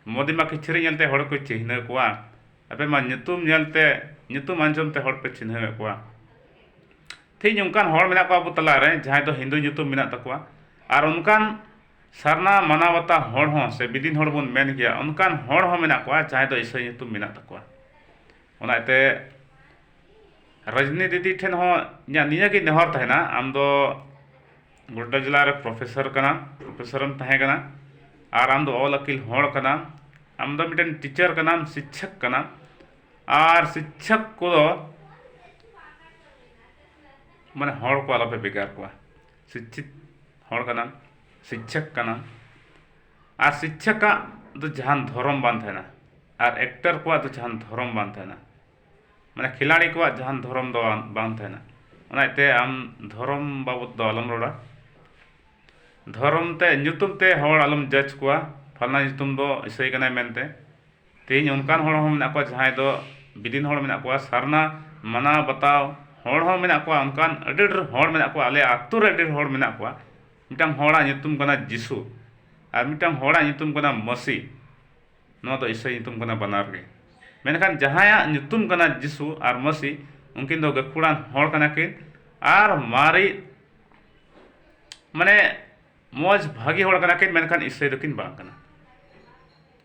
ᱢᱳᱫᱤ ᱢᱟ ᱠᱤᱪᱨᱤᱡ ᱧᱮᱞᱛᱮ ᱦᱚᱲ ᱠᱚ ᱪᱤᱱᱦᱟᱹᱣ ᱠᱚᱣᱟ ᱟᱯᱮ ᱢᱟ ᱧᱩᱛᱩᱢ ᱧᱮᱞᱛᱮ ᱧᱩᱛᱩᱢ ᱟᱸᱡᱚᱢᱛᱮ ᱦᱚᱲ ᱯᱮ ᱪᱤᱱᱦᱟᱹᱣᱮᱫ ᱠᱚᱣᱟ ᱛᱮᱦᱮᱧ ᱚᱱᱠᱟᱱ ᱦᱚᱲ ᱢᱮᱱᱟᱜ ᱠᱚᱣᱟ ᱟᱵᱚ ᱛᱟᱞᱟᱨᱮ ᱡᱟᱦᱟᱸᱭ ᱫᱚ ᱦᱤᱱᱫᱩ ᱧᱩᱛᱩᱢ ᱢᱮᱱᱟᱜ ᱛᱟᱠᱚᱣᱟ ᱟᱨ ᱚᱱᱠᱟᱱ ᱥᱟᱨᱱᱟ ᱢᱟᱱᱟᱣᱵᱟᱛᱟ ᱦᱚᱲ ᱦᱚᱸ ᱥᱮ ᱵᱤᱫᱤᱱ ᱦᱚᱲ ᱵᱚᱱ ᱢᱮᱱ ᱜᱮᱭᱟ ᱚᱱᱠᱟᱱ ᱦᱚᱲ ᱦᱚᱸ ᱢᱮᱱᱟᱜ ᱠᱚᱣᱟ ᱡᱟᱦᱟᱸᱭ ᱫᱚ ᱤᱥᱟᱹᱭ ᱧᱩᱛᱩᱢ ᱢᱮᱱᱟᱜ ᱛᱟᱠᱚᱣᱟ ᱚᱱᱟᱛᱮ ᱨᱚᱡᱽᱱᱤ ᱫᱤᱫᱤ ᱴᱷᱮᱱ ᱦᱚᱸ ᱤᱧᱟᱹᱜ ᱱᱤᱭᱟᱹ ᱜᱮ ᱱᱮᱦᱚᱨ ᱛᱟᱦᱮᱱᱟ ᱟᱢ ᱫᱚ ᱜᱳᱰᱰᱟ ᱡᱮᱞᱟ ᱨᱮ ᱯᱨᱚᱯᱷᱮᱥᱚᱨ ᱠᱟᱱᱟᱢ ᱯᱨᱚᱯᱷᱮᱥᱚᱨ ᱮᱢ ᱛᱟᱦᱮᱸ ᱠᱟᱱᱟ ᱟᱨ ᱟᱢ ᱫᱚ ᱚᱞ ᱟᱹᱠᱤᱞ ᱦᱚᱲ ᱠᱟᱱᱟᱢ ᱟᱢ ᱫᱚ ᱢᱤᱫᱴᱮᱱ ᱴᱤᱪᱟᱨ ᱠᱟᱱᱟᱢ ᱥᱤᱪᱪᱷᱚᱠ ᱠᱟᱱᱟᱢ ᱟᱨ ᱥᱤᱪᱪᱷᱚᱠ ᱠᱚ ᱢᱟᱱᱮ ᱦᱚᱲ ᱠᱚ ᱟᱞᱚᱯᱮ ᱵᱷᱮᱜᱟᱨ ᱠᱚᱣᱟ ᱥᱤᱪᱪᱷᱤᱛ ᱦᱚᱲ ᱠᱟᱱᱟᱢ ᱥᱤᱪᱪᱷᱚᱠ ᱠᱟᱱᱟᱢ ᱟᱨ ᱥᱤᱪᱪᱷᱚᱠ ᱟᱜ ᱫᱚ ᱡᱟᱦᱟᱱ ᱫᱷᱚᱨᱚᱢ ᱵᱟᱝ ᱛᱟᱦᱮᱱᱟ ᱟᱨ ᱮᱠᱴᱟᱨ ᱠᱚᱣᱟᱜ ᱫᱚ ᱡᱟᱦᱟᱱ ᱫᱷᱚᱨᱚᱢ ᱵᱟᱝ ᱛᱟᱦᱮᱱᱟ ᱢᱟᱱᱮ ᱠᱷᱤᱞᱟᱲᱤ ᱠᱚᱣᱟᱜ ᱡᱟᱦᱟᱱ ᱫᱷᱚᱨᱚᱢ ᱫᱚ ᱵᱟᱝ ᱛᱟᱦᱮᱱᱟ ᱚᱱᱟ ᱤᱭᱟᱹᱛᱮ ᱟᱢ ᱫᱷᱚᱨᱚᱢ ᱵᱟᱵᱚᱫ ᱫᱚ ᱟᱞᱚᱢ ᱨᱚᱲᱟ ᱫᱷᱚᱨᱚᱢ ᱛᱮ ᱧᱩᱛᱩᱢ ᱛᱮ ᱦᱚᱲ ᱟᱞᱚᱢ ᱡᱟᱡᱽ ᱠᱚᱣᱟ ᱯᱷᱟᱞᱱᱟ ᱧᱩᱛᱩᱢ ᱫᱚ ᱤᱥᱟᱹᱭ ᱠᱟᱱᱟᱭ ᱢᱮᱱᱛᱮ ᱛᱮᱦᱤᱧ ᱚᱱᱠᱟᱱ ᱦᱚᱲ ᱦᱚᱸ ᱢᱮᱱᱟᱜ ᱠᱚᱣᱟ ᱡᱟᱦᱟᱸᱭ ᱫᱚ ᱵᱤᱫᱤᱱ ᱦᱚᱲ ᱢᱮᱱᱟᱜ ᱠᱚᱣᱟ ᱥᱟᱨᱱᱟ ᱢᱟᱱᱟᱣ ᱵᱟᱛᱟᱣ ᱦᱚᱲ ᱦᱚᱸ ᱢᱮᱱᱟᱜ ᱠᱚᱣᱟ ᱚᱱᱠᱟᱱ ᱟᱹᱰᱤ ᱰᱷᱮᱨ ᱦᱚᱲ ᱢᱮᱱᱟᱜ ᱠᱚᱣᱟ ᱟᱞᱮ ᱟᱹᱛᱩ ᱨᱮ ᱟᱹᱰᱤ ᱰᱷᱮᱨ ᱦᱚᱲ ᱢᱮᱱᱟᱜ ᱠᱚᱣᱟ ᱢᱤᱫᱴᱟᱱ ᱦᱚᱲᱟᱜ ᱧᱩᱛᱩᱢ ᱠᱟᱱᱟ ᱡᱤᱥᱩ ᱟᱨ ᱢᱤᱫᱴᱟᱱ ᱦᱚᱲᱟᱜ ᱧᱩᱛᱩᱢ ᱠᱟᱱᱟ ᱢᱟᱹᱥᱤ ᱱᱚᱣᱟ ᱫᱚ ᱤᱥᱟᱹᱭ ᱧᱩᱛᱩᱢ ᱠᱟᱱᱟ ᱵᱟᱱᱟᱨ ᱜᱮ ᱢᱮᱱᱠᱷᱟᱱ ᱡᱟᱦᱟᱸᱭᱟᱜ ᱧᱩᱛᱩᱢ ᱠᱟᱱᱟ ᱡᱤᱥᱩ ᱟᱨ ᱢᱟᱹᱥᱤ ᱩᱱᱠᱤᱱ ᱫᱚ ᱜᱟᱹᱠᱷᱩᱲᱟᱱ ᱦᱚᱲ ᱠᱟᱱᱟ ᱠᱤᱱ ᱟᱨ ᱢᱟᱨᱮ ᱢᱟᱱᱮ ᱢᱚᱡᱽ ᱵᱷᱟᱹᱜᱤ ᱦᱚᱲ ᱠᱟᱱᱟ ᱠᱤᱱ ᱢᱮᱱᱠᱷᱟᱱ ᱤᱥᱟᱹᱭ ᱫᱚᱠᱤᱱ ᱵᱟᱝ ᱠᱟᱱᱟ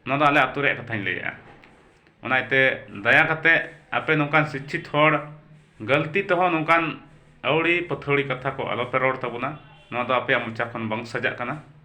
ᱱᱚᱣᱟ ᱫᱚ ᱟᱞᱮ ᱟᱹᱛᱩ ᱨᱮᱭᱟᱜ ᱠᱟᱛᱷᱟᱧ ᱞᱟᱹᱭᱮᱜᱼᱟ ᱚᱱᱟ ᱤᱭᱟᱹᱛᱮ ᱫᱟᱭᱟ ᱠᱟᱛᱮᱫ ᱟᱯᱮ ᱱᱚᱝᱠᱟᱱ ᱥᱤᱪᱪᱷᱤᱛ ᱦᱚᱲ ᱜᱟᱹᱞᱛᱤ ᱛᱮᱦᱚᱸ ᱱᱚᱝᱠᱟᱱ ᱟᱹᱣᱲᱤ ᱯᱟᱹᱛᱷᱟᱹᱣᱲᱤ ᱠᱟᱛᱷᱟ ᱠᱚ ᱟᱞᱚᱯᱮ ᱨᱚᱲ ᱛᱟᱵᱚᱱᱟ ᱱᱚᱣᱟ ᱫᱚ ᱟᱯᱮᱭᱟᱜ ᱢᱚᱪᱟ ᱠᱷᱚᱱ ᱵᱟᱝ ᱥᱟᱡᱟᱜ ᱠᱟᱱᱟ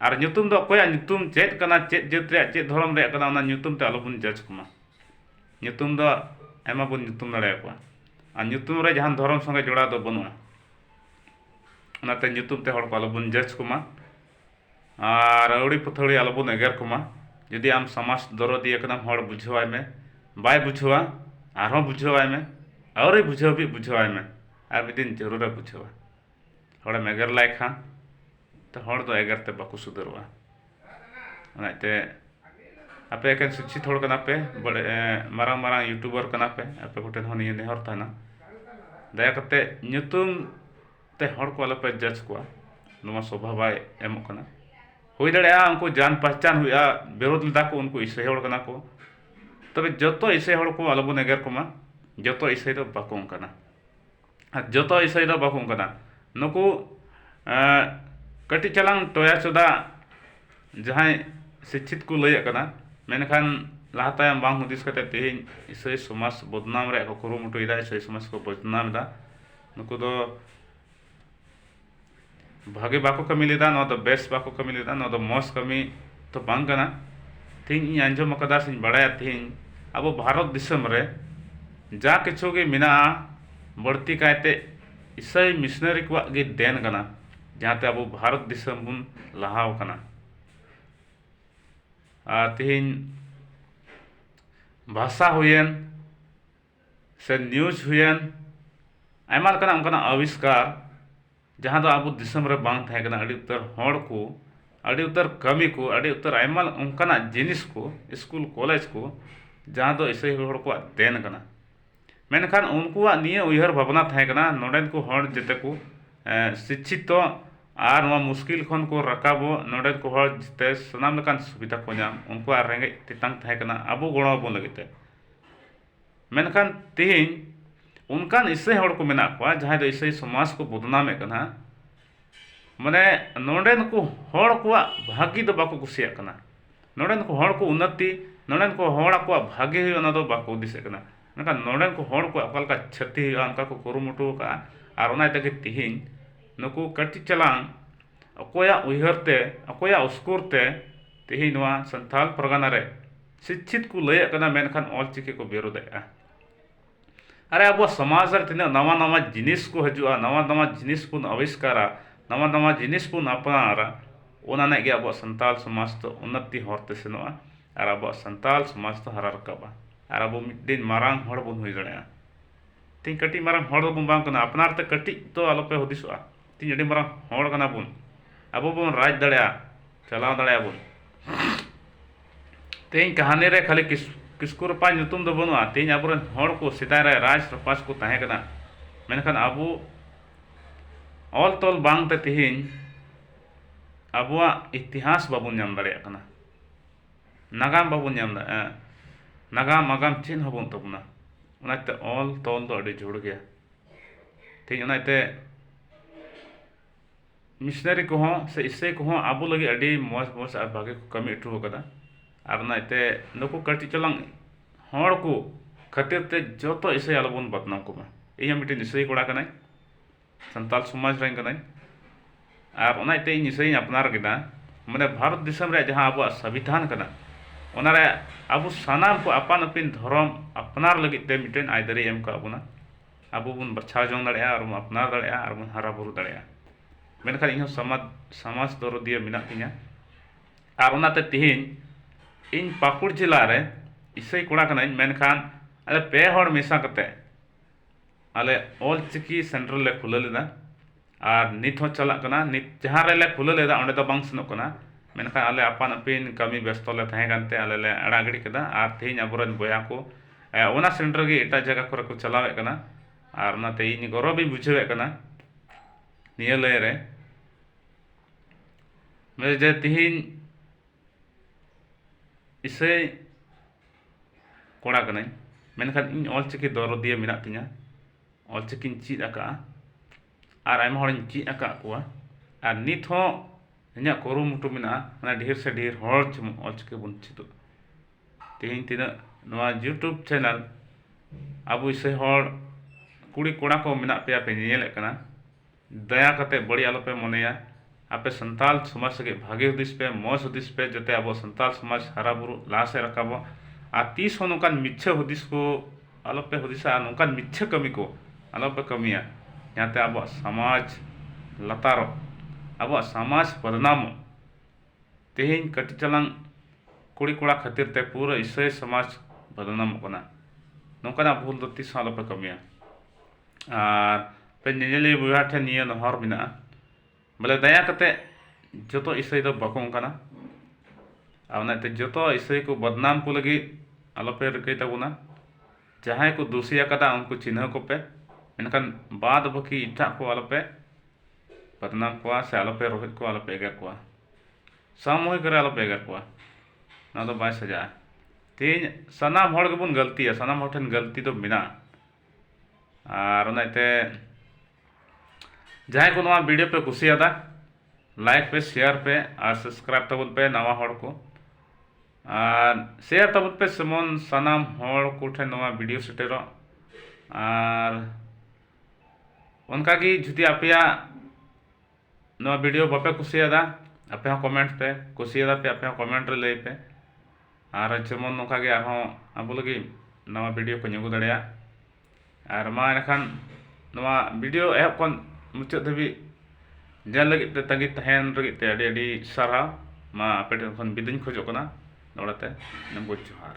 ᱟᱨ ᱧᱩᱛᱩᱢ ᱫᱚ ᱚᱠᱚᱭᱟᱜ ᱧᱩᱛᱩᱢ ᱪᱮᱫ ᱠᱟᱱᱟ ᱪᱮᱫ ᱡᱟᱹᱛ ᱨᱮᱭᱟᱜ ᱪᱮᱫ ᱫᱷᱚᱨᱚᱢ ᱨᱮᱭᱟᱜ ᱠᱟᱱᱟ ᱚᱱᱟ ᱧᱩᱛᱩᱢ ᱛᱮ ᱟᱞᱚᱵᱚᱱ ᱡᱟᱡᱽ ᱠᱚᱢᱟ ᱧᱩᱛᱩᱢ ᱫᱚ ᱟᱭᱢᱟ ᱵᱚᱱ ᱧᱩᱛᱩᱢ ᱫᱟᱲᱮᱭᱟᱠᱚᱣᱟ ᱟᱨ ᱧᱩᱛᱩᱢ ᱨᱮ ᱡᱟᱦᱟᱱ ᱫᱷᱚᱨᱚᱢ ᱥᱚᱸᱜᱮ ᱡᱚᱲᱟᱣ ᱫᱚ ᱵᱟᱹᱱᱩᱜᱼᱟ ᱚᱱᱟᱛᱮ ᱧᱩᱛᱩᱢ ᱛᱮ ᱦᱚᱲ ᱠᱚ ᱟᱞᱚᱵᱚᱱ ᱡᱟᱡᱽ ᱠᱚᱢᱟ ᱟᱨ ᱟᱹᱣᱲᱤ ᱯᱟᱹᱛᱷᱟᱹᱣᱲᱤ ᱟᱞᱚᱵᱚᱱ ᱮᱜᱮᱨ ᱠᱚᱢᱟ ᱡᱩᱫᱤ ᱟᱢ ᱥᱚᱢᱟᱡᱽ ᱫᱚᱨᱚᱫᱤᱭᱟᱹ ᱠᱟᱱᱟᱢ ᱦᱚᱲ ᱵᱩᱡᱷᱟᱹᱣᱟᱭ ᱢᱮ ᱵᱟᱭ ᱵᱩᱡᱷᱟᱹᱣᱟ ᱟᱨᱦᱚᱸ ᱵᱩᱡᱷᱟᱹᱣᱟᱭ ᱢᱮ ᱟᱹᱣᱨᱤ ᱵᱩᱡᱷᱟᱹᱣ ᱦᱟᱹᱵᱤᱡ ᱵᱩᱡᱷᱟᱹᱣᱟᱭ ᱢᱮ ᱟᱨ ᱢᱤᱫ ᱫᱤᱱ ᱡᱟᱹᱨᱩᱲᱮ ᱵᱩᱡᱷᱟᱹᱣᱟ ᱦᱚᱲᱮᱢ ᱮᱜᱮᱨ ᱞᱟᱭ ᱠᱷᱟᱱ ᱛᱚ ᱦᱚᱲ ᱫᱚ ᱮᱜᱮᱨ ᱛᱮ ᱵᱟᱠᱚ ᱥᱩᱫᱷᱟᱹᱨᱚᱜᱼᱟ ᱚᱱᱟ ᱤᱭᱟᱹᱛᱮ ᱟᱯᱮ ᱮᱠᱮᱱ ᱥᱤᱪᱪᱷᱤᱛ ᱦᱚᱲ ᱠᱟᱱᱟ ᱯᱮ ᱵᱚᱞᱮ ᱢᱟᱨᱟᱝ ᱢᱟᱨᱟᱝ ᱤᱭᱩᱴᱩᱵᱟᱨ ᱠᱟᱱᱟ ᱯᱮ ᱟᱯᱮ ᱠᱚᱴᱷᱮᱱ ᱦᱚᱸ ᱱᱤᱭᱟᱹ ᱱᱮᱦᱚᱨ ᱛᱟᱦᱮᱱᱟ ᱫᱟᱭᱟ ᱠᱟᱛᱮ ᱧᱩᱛᱩᱢ ᱛᱮ ᱦᱚᱲ ᱠᱚ ᱟᱞᱚ ᱯᱮ ᱡᱟᱡᱽ ᱠᱚᱣᱟ ᱱᱚᱣᱟ ᱥᱳᱵᱷᱟ ᱵᱟᱭ ᱮᱢᱚᱜ ᱠᱟᱱᱟ ᱦᱩᱭ ᱫᱟᱲᱮᱭᱟᱜᱼᱟ ᱩᱱᱠᱩ ᱡᱟᱱ ᱯᱮᱦᱪᱟᱱ ᱦᱩᱭᱩᱜᱼᱟ ᱵᱤᱨᱳᱫ ᱞᱮᱫᱟ ᱠᱚ ᱩᱱᱠᱩ ᱤᱥᱟᱹᱭ ᱦᱚᱲ ᱠᱟᱱᱟ ᱠᱚ ᱛᱚᱵᱮ ᱡᱚᱛᱚ ᱤᱥᱟᱹᱭ ᱦᱚᱲ ᱠᱚ ᱟᱞᱚ ᱵᱚᱱ ᱮᱜᱮᱨ ᱠᱚᱢᱟ ᱡᱚᱛᱚ ᱤᱥᱟᱹᱭ ᱫᱚ ᱵᱟᱠᱚ ᱚᱱᱠᱟᱱᱟ ᱡᱚᱛᱚ ᱤᱥᱟᱹᱭ ᱫᱚ ᱵᱟᱠᱚ ᱚᱱᱠᱟᱱᱟ ᱱᱩᱠᱩ ᱠᱟᱹᱴᱤᱡ ᱪᱟᱞᱟᱝ ᱴᱚᱭᱟ ᱪᱚᱫᱟ ᱡᱟᱦᱟᱸᱭ ᱥᱤᱪᱪᱷᱤᱛ ᱠᱚ ᱞᱟᱹᱭᱟᱜ ᱠᱟᱱᱟ ᱢᱮᱱᱠᱷᱟᱱ ᱞᱟᱦᱟ ᱛᱟᱭᱚᱢ ᱵᱟᱝ ᱦᱩᱫᱤᱥ ᱠᱟᱛᱮᱫ ᱛᱮᱦᱤᱧ ᱤᱥᱟᱹᱭ ᱥᱚᱢᱟᱡᱽ ᱵᱚᱫᱽᱱᱟᱢ ᱨᱮᱭᱟᱜ ᱠᱚ ᱠᱩᱨᱩᱢᱩᱴᱩᱭᱮᱫᱟ ᱤᱥᱟᱹᱭ ᱥᱚᱢᱟᱡᱽ ᱠᱚ ᱵᱚᱫᱽᱱᱟᱢ ᱮᱫᱟ ᱱᱩᱠᱩ ᱫᱚ ᱵᱷᱟᱜᱮ ᱵᱟᱠᱚ ᱠᱟᱹᱢᱤ ᱞᱮᱫᱟ ᱱᱚᱣᱟ ᱫᱚ ᱵᱮᱥ ᱵᱟᱠᱚ ᱠᱟᱹᱢᱤ ᱞᱮᱫᱟ ᱱᱚᱣᱟ ᱫᱚ ᱢᱚᱡᱽ ᱠᱟᱹᱢᱤ ᱫᱚ ᱵᱟᱝ ᱠᱟᱱᱟ ᱛᱮᱦᱮᱧ ᱤᱧ ᱟᱸᱡᱚᱢ ᱠᱟᱫᱟ ᱥᱮᱧ ᱵᱟᱲᱟᱭᱟ ᱛᱮᱦᱮᱧ ᱟᱵᱚ ᱵᱷᱟᱨᱚᱛ ᱫᱤᱥᱚᱢ ᱨᱮ ᱡᱟ ᱠᱤᱪᱷᱩ ᱜᱮ ᱢᱮᱱᱟᱜᱼᱟ ᱵᱟᱹᱲᱛᱤ ᱠᱟᱭᱛᱮ ᱤᱥᱟᱹᱭ ᱢᱤᱥᱱᱟᱹᱨᱤ ᱠᱚᱣᱟᱜ ᱜᱮ ᱫᱮᱱ ᱠᱟᱱᱟ ᱡᱟᱦᱟᱸᱛᱮ ᱟᱵᱚ ᱵᱷᱟᱨᱚᱛ ᱫᱤᱥᱚᱢ ᱵᱚᱱ ᱞᱟᱦᱟ ᱟᱠᱟᱱᱟ ᱟᱨ ᱛᱮᱦᱮᱧ ᱵᱷᱟᱥᱟ ᱦᱩᱭᱮᱱ ᱥᱮ ᱱᱤᱭᱩᱡᱽ ᱦᱩᱭᱮᱱ ᱟᱭᱢᱟ ᱞᱮᱠᱟᱱᱟᱜ ᱚᱱᱠᱟᱱᱟᱜ ᱟᱵᱤᱥᱠᱟᱨ ᱡᱟᱦᱟᱸ ᱫᱚ ᱟᱵᱚ ᱫᱤᱥᱚᱢ ᱨᱮ ᱵᱟᱝ ᱛᱟᱦᱮᱸ ᱠᱟᱱᱟ ᱟᱹᱰᱤ ᱩᱛᱟᱹᱨ ᱦᱚᱲ ᱠᱚ ᱟᱹᱰᱤ ᱩᱛᱟᱹᱨ ᱠᱟᱹᱢᱤ ᱠᱚ ᱟᱹᱰᱤ ᱩᱛᱟᱹᱨ ᱟᱭᱢᱟ ᱚᱱᱠᱟᱱᱟᱜ ᱡᱤᱱᱤᱥ ᱠᱚ ᱤᱥᱠᱩᱞ ᱠᱚᱞᱮᱡᱽ ᱠᱚ ᱡᱟᱦᱟᱸ ᱫᱚ ᱤᱥᱟᱹᱭ ᱦᱚᱲ ᱠᱚᱣᱟᱜ ᱫᱮᱱ ᱠᱟᱱᱟ ᱢᱮᱱᱠᱷᱟᱱ ᱩᱱᱠᱩᱣᱟᱜ ᱱᱤᱭᱟᱹ ᱩᱭᱦᱟᱹᱨ ᱵᱷᱟᱵᱽᱱᱟ ᱛᱟᱦᱮᱸ ᱠᱟᱱᱟ ᱱᱚᱰᱮᱱ ᱠᱚ ᱦᱚᱲ ᱡᱟᱛᱮ ᱠᱚ ᱥᱤᱪᱪᱷᱤᱛᱚ ᱟᱨ ᱱᱚᱣᱟ ᱢᱩᱥᱠᱤᱞ ᱠᱷᱚᱱ ᱠᱚ ᱨᱟᱠᱟᱵᱚᱜ ᱱᱚᱰᱮᱱ ᱠᱚ ᱦᱚᱲ ᱡᱟᱛᱮ ᱥᱟᱱᱟᱢ ᱞᱮᱠᱟᱱ ᱥᱩᱵᱤᱫᱷᱟ ᱠᱚ ᱧᱟᱢ ᱩᱱᱠᱩᱣᱟᱜ ᱨᱮᱸᱜᱮᱡ ᱛᱮᱛᱟᱝ ᱛᱟᱦᱮᱸ ᱠᱟᱱᱟ ᱟᱵᱚ ᱜᱚᱲᱚ ᱟᱵᱚᱱ ᱞᱟᱹᱜᱤᱫ ᱛᱮ ᱢᱮᱱᱠᱷᱟᱱ ᱛᱮᱦᱮᱧ ᱚᱱᱠᱟᱱ ᱤᱥᱟᱹᱭ ᱦᱚᱲ ᱠᱚ ᱢᱮᱱᱟᱜ ᱠᱚᱣᱟ ᱡᱟᱦᱟᱸᱭ ᱫᱚ ᱤᱥᱟᱹᱭ ᱥᱚᱢᱟᱡᱽ ᱠᱚ ᱵᱚᱫᱽᱱᱟᱢᱮᱫ ᱠᱟᱱᱟ ᱢᱟᱱᱮ ᱱᱚᱰᱮᱱ ᱠᱚ ᱦᱚᱲ ᱠᱚᱣᱟᱜ ᱵᱷᱟᱹᱜᱤ ᱫᱚ ᱵᱟᱠᱚ ᱠᱩᱥᱤᱭᱟᱜ ᱠᱟᱱᱟ ᱱᱚᱰᱮᱱ ᱠᱚ ᱦᱚᱲ ᱠᱚ ᱩᱱᱱᱚᱛᱤ ᱱᱚᱰᱮᱱ ᱠᱚ ᱦᱚᱲ ᱟᱠᱚᱣᱟᱜ ᱵᱷᱟᱹᱜᱤ ᱦᱩᱭᱩᱜ ᱚᱱᱟ ᱫᱚ ᱵᱟᱠᱚ ᱦᱩᱫᱤᱥᱮᱫ ᱠᱟᱱᱟ ᱢᱮᱱᱠᱷᱟᱱ ᱱᱚᱰᱮᱱ ᱠᱚ ᱦᱚᱲ ᱠᱚᱣᱟᱜ ᱚᱠᱟ ᱞᱮᱠᱟ ᱪᱷᱟᱹᱛᱤ ᱦᱩᱭᱩᱜᱼᱟ ᱚᱱᱠᱟ ᱠᱚ ᱠᱩᱨᱩᱢᱩᱴᱩ ᱟᱠᱟᱫᱼᱟ ᱟᱨ ᱚᱱᱟ ᱤᱭᱟᱹᱛᱮ ᱛᱮᱦᱮᱧ ᱱᱩᱠᱩ ᱠᱟᱹᱴᱤᱡ ᱪᱟᱞᱟᱝ ᱚᱠᱚᱭᱟᱜ ᱩᱭᱦᱟᱹᱨ ᱛᱮ ᱚᱠᱚᱭᱟᱜ ᱩᱥᱠᱩᱨ ᱛᱮ ᱛᱮᱦᱮᱧ ᱱᱚᱣᱟ ᱥᱟᱱᱛᱟᱲ ᱯᱟᱨᱜᱟᱱᱟ ᱨᱮ ᱥᱤᱪᱪᱷᱤᱛ ᱠᱚ ᱞᱟᱹᱭᱟᱜ ᱠᱟᱱᱟ ᱢᱮᱱᱠᱷᱟᱱ ᱚᱞ ᱪᱤᱠᱤ ᱠᱚ ᱵᱤᱨᱳᱫᱮᱜᱼᱟ ᱟᱨ ᱟᱵᱚ ᱥᱚᱢᱟᱡᱽ ᱨᱮ ᱛᱤᱱᱟᱹᱜ ᱱᱟᱣᱟ ᱱᱟᱣᱟ ᱡᱤᱱᱤᱥ ᱠᱚ ᱦᱤᱡᱩᱜᱼᱟ ᱱᱟᱣᱟ ᱱᱟᱣᱟ ᱡᱤᱱᱤᱥ ᱵᱚᱱ ᱟᱵᱤᱥᱠᱟᱨᱟ ᱱᱟᱣᱟ ᱱᱟᱣᱟ ᱡᱤᱱᱤᱥ ᱵᱚᱱ ᱟᱯᱱᱟᱨᱟ ᱚᱱᱟ ᱨᱮᱱᱟᱜ ᱜᱮ ᱟᱵᱚᱣᱟᱜ ᱥᱟᱱᱛᱟᱲ ᱥᱚᱢᱟᱡᱽ ᱫᱚ ᱩᱱᱱᱚᱛᱤ ᱦᱚᱨ ᱛᱮ ᱥᱮᱱᱚᱜᱼᱟ ᱟᱨ ᱟᱵᱚᱣᱟᱜ ᱥᱟᱱᱛᱟᱲ ᱥᱚᱢᱟᱡᱽ ᱫᱚ ᱦᱟᱨᱟ ᱨᱟᱠᱟᱵᱼᱟ ᱟᱨ ᱟᱵᱚ ᱢᱤᱫ ᱫᱤᱱ ᱢᱟᱨᱟᱝ ᱦᱚᱲ ᱵᱚᱱ ᱦᱩᱭ ᱫᱟᱲᱮᱭᱟᱜᱼᱟ ᱛᱮᱦᱮᱧ ᱠᱟᱹᱴᱤᱡ ᱢᱟᱨᱟᱝ ᱦᱚᱲ ᱫᱚᱵᱚᱱ ᱵᱟᱝ ᱠᱟᱱᱟ ᱟᱯᱱᱟᱨ ᱛᱮ ᱠᱟᱹᱴᱤᱡ ᱫᱚ ᱟᱞᱚᱯᱮ ᱦᱩᱫᱤᱥᱚᱜᱼᱟ ᱛᱤᱧ ᱟᱹᱰᱤ ᱢᱟᱨᱟᱝ ᱦᱚᱲ ᱠᱟᱱᱟ ᱵᱚᱱ ᱟᱵᱚ ᱵᱚᱱ ᱨᱟᱡᱽ ᱫᱟᱲᱮᱭᱟᱜᱼᱟ ᱪᱟᱞᱟᱣ ᱫᱟᱲᱮᱭᱟᱜᱼᱟ ᱵᱚᱱ ᱛᱮᱦᱮᱧ ᱠᱟᱹᱦᱱᱤ ᱨᱮ ᱠᱷᱟᱹᱞᱤ ᱠᱤᱥ ᱠᱤᱥᱠᱩ ᱨᱟᱯᱟᱡᱽ ᱧᱩᱛᱩᱢ ᱫᱚ ᱵᱟᱹᱱᱩᱜᱼᱟ ᱛᱮᱦᱮᱧ ᱟᱵᱚᱨᱮᱱ ᱦᱚᱲ ᱠᱚ ᱥᱮᱫᱟᱭ ᱨᱮ ᱨᱟᱡᱽ ᱨᱟᱯᱟᱡᱽ ᱠᱚ ᱛᱟᱦᱮᱸ ᱠᱟᱱᱟ ᱢᱮᱱᱠᱷᱟᱱ ᱟᱵᱚ ᱚᱞ ᱛᱚᱞ ᱵᱟᱝᱛᱮ ᱛᱮᱦᱮᱧ ᱟᱵᱚᱣᱟᱜ ᱤᱛᱤᱦᱟᱥ ᱵᱟᱵᱚᱱ ᱧᱟᱢ ᱫᱟᱲᱮᱭᱟᱜ ᱠᱟᱱᱟ ᱱᱟᱜᱟᱢ ᱵᱟᱵᱚᱱ ᱧᱟᱢ ᱫᱟᱲᱮᱭᱟᱜᱼᱟ ᱱᱟᱜᱟᱢ ᱟᱜᱟᱢ ᱪᱮᱫ ᱦᱚᱸ ᱵᱟᱹᱱᱩᱜ ᱛᱟᱵᱚᱱᱟ ᱚᱱᱟᱛᱮ ᱚᱞ ᱛᱚᱞ ᱫᱚ ᱟᱹᱰᱤ ᱡᱩᱨ ᱜᱮᱭᱟ ᱛᱮᱦᱮᱧ ᱚᱱᱟ ᱤᱭᱟᱹᱛᱮ ᱢᱤᱥᱱᱟᱨᱤ ᱠᱚᱦᱚᱸ ᱥᱮ ᱤᱥᱟᱹᱭ ᱠᱚᱦᱚᱸ ᱟᱵᱚ ᱞᱟᱹᱜᱤᱫ ᱟᱹᱰᱤ ᱢᱚᱡᱽ ᱢᱚᱡᱽ ᱟᱨ ᱵᱷᱟᱹᱜᱤ ᱠᱚ ᱠᱟᱹᱢᱤ ᱦᱚᱴᱚ ᱠᱟᱫᱟ ᱟᱨ ᱚᱱᱟ ᱤᱭᱟᱹᱛᱮ ᱱᱩᱠᱩ ᱠᱟᱹᱴᱤᱡ ᱪᱚᱞᱟᱝ ᱦᱚᱲ ᱠᱚ ᱠᱷᱟᱹᱛᱤᱨ ᱛᱮ ᱡᱚᱛᱚ ᱤᱥᱟᱹᱭ ᱟᱞᱚ ᱵᱚᱱ ᱵᱚᱫᱱᱟᱢ ᱠᱚᱢᱟ ᱤᱧ ᱦᱚᱸ ᱢᱤᱫᱴᱮᱱ ᱤᱥᱟᱹᱭ ᱠᱚᱲᱟ ᱠᱟᱹᱱᱟᱹᱧ ᱥᱟᱱᱛᱟᱞ ᱥᱚᱢᱟᱡᱽ ᱨᱮᱱ ᱠᱟᱹᱱᱟᱹᱧ ᱟᱨ ᱚᱱᱟ ᱤᱭᱟᱹᱛᱮ ᱤᱧ ᱱᱤᱥᱟᱹᱭᱤᱧ ᱟᱯᱱᱟᱨ ᱠᱮᱫᱟ ᱢᱟᱱᱮ ᱵᱷᱟᱨᱚᱛ ᱫᱤᱥᱚᱢ ᱨᱮᱭᱟᱜ ᱡᱟᱦᱟᱸ ᱟᱵᱚᱣᱟᱜ ᱥᱟᱵᱤᱫᱷᱟᱱ ᱠᱟᱱᱟ ᱚᱱᱟ ᱨᱮ ᱟᱵᱚ ᱥᱟᱱᱟᱢ ᱠᱚ ᱟᱯᱟᱱ ᱟᱹᱯᱤᱱ ᱫᱷᱚᱨᱚᱢ ᱟᱯᱱᱟᱨ ᱞᱟᱹᱜᱤᱫ ᱛᱮ ᱢᱤᱫᱴᱮᱱ ᱟᱹᱭᱫᱟᱹᱨᱤᱭ ᱮᱢ ᱟᱠᱟᱫ ᱵᱚᱱᱟ ᱟᱵᱚ ᱵᱚᱱ ᱵᱟᱪᱷᱟᱣ ᱡᱚᱝ ᱫᱟᱲᱮᱭᱟᱜᱼᱟ ᱟᱨ ᱵᱚᱱ ᱟᱯᱱᱟᱨ ᱫᱟᱲᱮᱭᱟᱜᱼᱟ ᱟᱨ ᱵᱚᱱ ᱦᱟᱨᱟ ᱵᱩᱨᱩ ᱫᱟᱲᱮᱭᱟᱜᱼᱟ ᱢᱮᱱᱠᱷᱟᱱ ᱤᱧ ᱦᱚᱸ ᱥᱚᱢᱟᱡᱽ ᱥᱚᱢᱟᱡᱽ ᱫᱚᱨᱚᱫᱤᱭᱟᱹ ᱢᱮᱱᱟᱜ ᱛᱤᱧᱟᱹ ᱟᱨ ᱚᱱᱟᱛᱮ ᱛᱮᱦᱤᱧ ᱤᱧ ᱯᱟᱹᱠᱩᱲ ᱡᱮᱞᱟ ᱨᱮ ᱤᱥᱟᱹᱭ ᱠᱚᱲᱟ ᱠᱟᱹᱱᱟᱹᱧ ᱢᱮᱱᱠᱷᱟᱱ ᱟᱞᱮ ᱯᱮ ᱦᱚᱲ ᱢᱮᱥᱟ ᱠᱟᱛᱮᱫ ᱟᱞᱮ ᱚᱞ ᱪᱤᱠᱤ ᱥᱮᱱᱴᱟᱨ ᱞᱮ ᱠᱷᱩᱞᱟᱹᱣ ᱞᱮᱫᱟ ᱟᱨ ᱱᱤᱛ ᱦᱚᱸ ᱪᱟᱞᱟᱜ ᱠᱟᱱᱟ ᱱᱤᱛ ᱡᱟᱦᱟᱸ ᱨᱮᱞᱮ ᱠᱷᱩᱞᱟᱹᱣ ᱞᱮᱫᱟ ᱚᱸᱰᱮ ᱫᱚ ᱵᱟᱝ ᱥᱮᱱᱚᱜ ᱠᱟᱱᱟ ᱢᱮᱱᱠᱷᱟᱱ ᱟᱞᱮ ᱟᱯᱟᱱ ᱟᱹᱯᱤᱱ ᱠᱟᱹᱢᱤ ᱵᱮᱥᱛᱚ ᱞᱮ ᱛᱟᱦᱮᱸ ᱠᱟᱱᱛᱮ ᱟᱞᱮ ᱞᱮ ᱟᱲᱟᱜ ᱜᱤᱰᱤ ᱠᱮᱫᱟ ᱟᱨ ᱛᱮᱦᱤᱧ ᱟᱵᱚ ᱨᱮᱱ ᱵᱚᱭᱦᱟ ᱠᱚ ᱚᱱᱟ ᱥᱮᱱᱴᱟᱨ ᱜᱮ ᱮᱴᱟᱜ ᱡᱟᱭᱜᱟ ᱠᱚᱨᱮ ᱠᱚ ᱪᱟᱞᱟᱣᱮᱫ ᱠᱟᱱᱟ ᱟᱨ ᱚᱱᱟᱛᱮ ᱤᱧ ᱜᱚᱨᱚᱵᱽ ᱤᱧ ᱵᱩᱡᱷᱟᱹᱣᱮᱫ ᱠᱟᱱᱟ ᱱᱤᱭᱟᱹ ᱞᱟᱹᱭ ᱨᱮ ᱱᱚᱜᱼᱚᱭ ᱡᱮ ᱛᱮᱦᱤᱧ ᱤᱥᱟᱹᱭ ᱠᱚᱲᱟ ᱠᱟᱹᱱᱟᱹᱧ ᱢᱮᱱᱠᱷᱟᱱ ᱤᱧ ᱚᱞ ᱪᱤᱠᱤ ᱫᱚᱨᱚᱫᱤᱭᱟᱹ ᱢᱮᱱᱟᱜ ᱛᱤᱧᱟᱹ ᱚᱞ ᱪᱤᱠᱤᱧ ᱪᱮᱫ ᱟᱠᱟᱫᱼᱟ ᱟᱨ ᱟᱭᱢᱟ ᱦᱚᱲᱤᱧ ᱪᱮᱫ ᱟᱠᱟᱫ ᱠᱚᱣᱟ ᱟᱨ ᱱᱤᱛ ᱦᱚᱸ ᱤᱧᱟᱹᱜ ᱠᱩᱨᱩᱢᱩᱴᱩ ᱢᱮᱱᱟᱜᱼᱟ ᱢᱟᱱᱮ ᱰᱷᱮᱨ ᱥᱮ ᱰᱷᱮᱨ ᱦᱚᱲ ᱡᱮᱢᱚᱱ ᱚᱞ ᱪᱤᱠᱤ ᱵᱚᱱ ᱪᱮᱫᱚᱜ ᱛᱮᱦᱮᱧ ᱛᱤᱱᱟᱹᱜ ᱱᱚᱣᱟ ᱤᱭᱩᱴᱩᱵᱽ ᱪᱮᱱᱮᱞ ᱟᱵᱚ ᱥᱮ ᱦᱚᱲ ᱠᱩᱲᱤᱼᱠᱚᱲᱟ ᱠᱚ ᱢᱮᱱᱟᱜ ᱯᱮᱭᱟ ᱯᱮ ᱧᱮᱧᱮᱞᱮᱫ ᱠᱟᱱᱟ ᱫᱟᱭᱟ ᱠᱟᱛᱮ ᱵᱟᱹᱲᱤᱡ ᱟᱞᱚ ᱯᱮ ᱢᱚᱱᱮᱭᱟ ᱟᱯᱮ ᱥᱟᱱᱛᱟᱲ ᱥᱚᱢᱟᱡᱽ ᱞᱟᱹᱜᱤᱫ ᱵᱷᱟᱹᱜᱤ ᱦᱩᱫᱤᱥ ᱯᱮ ᱢᱚᱡᱽ ᱦᱩᱫᱤᱥ ᱯᱮ ᱡᱟᱛᱮ ᱟᱵᱚ ᱥᱟᱱᱛᱟᱲ ᱥᱚᱢᱟᱡᱽ ᱦᱟᱨᱟ ᱵᱩᱨᱩᱜ ᱞᱟᱦᱟ ᱥᱮᱫ ᱨᱟᱠᱟᱵᱚᱜ ᱟᱨ ᱛᱤᱥ ᱦᱚᱸ ᱱᱚᱝᱠᱟᱱ ᱢᱤᱪᱪᱷᱟᱹ ᱦᱩᱫᱤᱥ ᱠᱚ ᱟᱞᱚ ᱯᱮ ᱦᱩᱫᱤᱥᱟ ᱟᱨ ᱱᱚᱝᱠᱟᱱ ᱢᱤᱪᱪᱷᱟᱹ ᱠᱟᱹᱢᱤ ᱠᱚ ᱟᱞᱚ ᱯᱮ ᱠᱟᱹᱢᱤᱭᱟ ᱡᱟᱛᱮ ᱟᱵᱚᱣᱟᱜ ᱥᱚᱢᱟᱡᱽ ᱞᱟᱛᱟᱨᱚᱜ ᱟᱵᱚᱣᱟᱜ ᱥᱚᱢᱟᱡᱽ ᱵᱚᱫᱽᱱᱟᱢᱚᱜ ᱛᱮᱦᱮᱧ ᱠᱟᱹᱴᱤᱡ ᱪᱟᱞᱟᱝ ᱠᱩᱲᱤᱼᱠᱚᱲᱟ ᱠᱷᱟᱹᱛᱤᱨ ᱛᱮ ᱯᱩᱨᱟᱹ ᱤᱥᱟᱹᱭ ᱥᱚᱢᱟᱡᱽ ᱵᱚᱫᱽᱱᱟᱢᱚᱜ ᱠᱟᱱᱟ ᱱᱚᱝᱠᱟᱱᱟᱜ ᱵᱷᱩᱞ ᱫᱚ ᱛᱤᱥ ᱦᱚᱸ ᱟᱞᱚ ᱯᱮ ᱠᱟᱹᱢᱤᱭᱟ ᱟᱨ ᱟᱯᱮ ᱧᱮᱧᱮᱞᱤᱭᱟᱹ ᱵᱚᱭᱦᱟ ᱴᱷᱮᱱ ᱱᱤᱭᱟᱹ ᱱᱮᱦᱚᱨ ᱢᱮᱱᱟᱜᱼᱟ ᱵᱚᱞᱮ ᱫᱟᱭᱟ ᱠᱟᱛᱮ ᱡᱚᱛᱚ ᱤᱥᱟᱹᱭ ᱫᱚ ᱵᱟᱠᱚ ᱚᱱᱠᱟᱱᱟ ᱟᱨ ᱚᱱᱟᱛᱮ ᱡᱚᱛᱚ ᱤᱥᱟᱹᱭ ᱠᱚ ᱵᱚᱫᱽᱱᱟᱢ ᱠᱚ ᱞᱟᱹᱜᱤᱫ ᱟᱞᱚ ᱯᱮ ᱨᱤᱠᱟᱹᱭ ᱛᱟᱵᱚᱱᱟ ᱡᱟᱦᱟᱸᱭ ᱠᱚ ᱫᱳᱥᱤ ᱟᱠᱟᱫᱟ ᱩᱱᱠᱩ ᱪᱤᱱᱦᱟᱹᱣ ᱠᱚᱯᱮ ᱢᱮᱱᱠᱷᱟᱱ ᱵᱟᱫᱽ ᱵᱟᱹᱠᱤ ᱮᱴᱟᱜ ᱠᱚ ᱟᱞᱚ ᱯᱮ ᱵᱚᱫᱽᱱᱟᱢ ᱠᱚᱣᱟ ᱥᱮ ᱟᱞᱚ ᱯᱮ ᱨᱳᱦᱮᱫ ᱠᱚᱣᱟ ᱟᱞᱚ ᱯᱮ ᱮᱜᱮᱨ ᱠᱚᱣᱟ ᱥᱟᱢᱩᱦᱤᱠ ᱨᱮ ᱟᱞᱚ ᱯᱮ ᱮᱜᱮᱨ ᱠᱚᱣᱟ ᱱᱚᱣᱟ ᱫᱚ ᱵᱟᱭ ᱥᱟᱡᱟᱜᱼᱟ ᱛᱮᱦᱮᱧ ᱥᱟᱱᱟᱢ ᱦᱚᱲ ᱜᱮᱵᱚᱱ ᱜᱟᱹᱞᱛᱤᱭᱟ ᱥᱟᱱᱟᱢ ᱦᱚᱲ ᱴᱷᱮᱱ ᱜᱟᱹᱞᱛᱤ ᱫᱚ ᱢᱮᱱᱟᱜᱼᱟ ᱟᱨ ᱚᱱᱟ ᱛᱮ ᱡᱟᱦᱟᱸᱭ ᱠᱚ ᱱᱚᱣᱟ ᱵᱷᱤᱰᱤᱭᱳ ᱯᱮ ᱠᱩᱥᱤᱭᱟᱫᱟ ᱞᱟᱭᱤᱠ ᱯᱮ ᱥᱮᱭᱟᱨ ᱯᱮ ᱟᱨ ᱥᱟᱵᱥᱠᱨᱟᱭᱤᱵ ᱛᱟᱵᱚᱱ ᱯᱮ ᱱᱟᱣᱟ ᱦᱚᱲ ᱠᱚ ᱟᱨ ᱥᱮᱭᱟᱨ ᱛᱟᱵᱚᱱ ᱯᱮ ᱥᱮᱢᱚᱱ ᱥᱟᱱᱟᱢ ᱦᱚᱲ ᱠᱚ ᱴᱷᱮᱱ ᱱᱚᱣᱟ ᱵᱷᱤᱰᱤᱭᱳ ᱥᱮᱴᱮᱨᱚᱜ ᱟᱨ ᱚᱱᱠᱟᱜᱮ ᱡᱩᱫᱤ ᱟᱯᱮᱭᱟᱜ ᱱᱚᱣᱟ ᱵᱷᱤᱰᱤᱭᱳ ᱵᱟᱯᱮ ᱠᱩᱥᱤᱭᱟᱫᱟ ᱟᱯᱮ ᱦᱚᱸ ᱠᱚᱢᱮᱱᱴ ᱯᱮ ᱠᱩᱥᱤᱭᱟᱫᱟ ᱯᱮ ᱟᱯᱮ ᱦᱚᱸ ᱠᱚᱢᱮᱱᱴ ᱨᱮ ᱞᱟᱹᱭ ᱯᱮ ᱟᱨ ᱡᱮᱢᱚᱱ ᱱᱚᱝᱠᱟ ᱜᱮ ᱟᱨᱦᱚᱸ ᱟᱵᱚ ᱞᱟᱹᱜᱤᱫ ᱱᱟᱣᱟ ᱵᱷᱤᱰᱤᱭᱳ ᱠᱚᱧ ᱟᱹᱜᱩ ᱫᱟᱲᱮᱭᱟᱜ ᱟᱨ ᱢᱟ ᱮᱱᱠᱷᱟᱱ ᱱᱚᱣᱟ ᱵᱷᱤᱰᱤᱭᱳ ᱮᱦᱚᱵ ᱠᱷᱚᱱ ᱢᱩᱪᱟᱹᱫ ᱫᱷᱟᱹᱵᱤᱡ ᱧᱮᱞ ᱞᱟᱹᱜᱤᱫ ᱛᱮ ᱛᱟᱺᱜᱤ ᱛᱟᱦᱮᱱ ᱞᱟᱹᱜᱤᱫ ᱛᱮ ᱟᱹᱰᱤ ᱟᱹᱰᱤ ᱥᱟᱨᱦᱟᱣ ᱢᱟ ᱟᱯᱮ ᱴᱷᱮᱱ ᱠᱷᱚᱱ ᱵᱤᱫᱟᱹᱧ ᱠᱷᱚᱡᱚᱜ ᱠᱟᱱᱟ ᱱᱚᱰᱮᱛᱮ ᱵᱩᱡᱽ ᱡᱚᱦᱟᱨ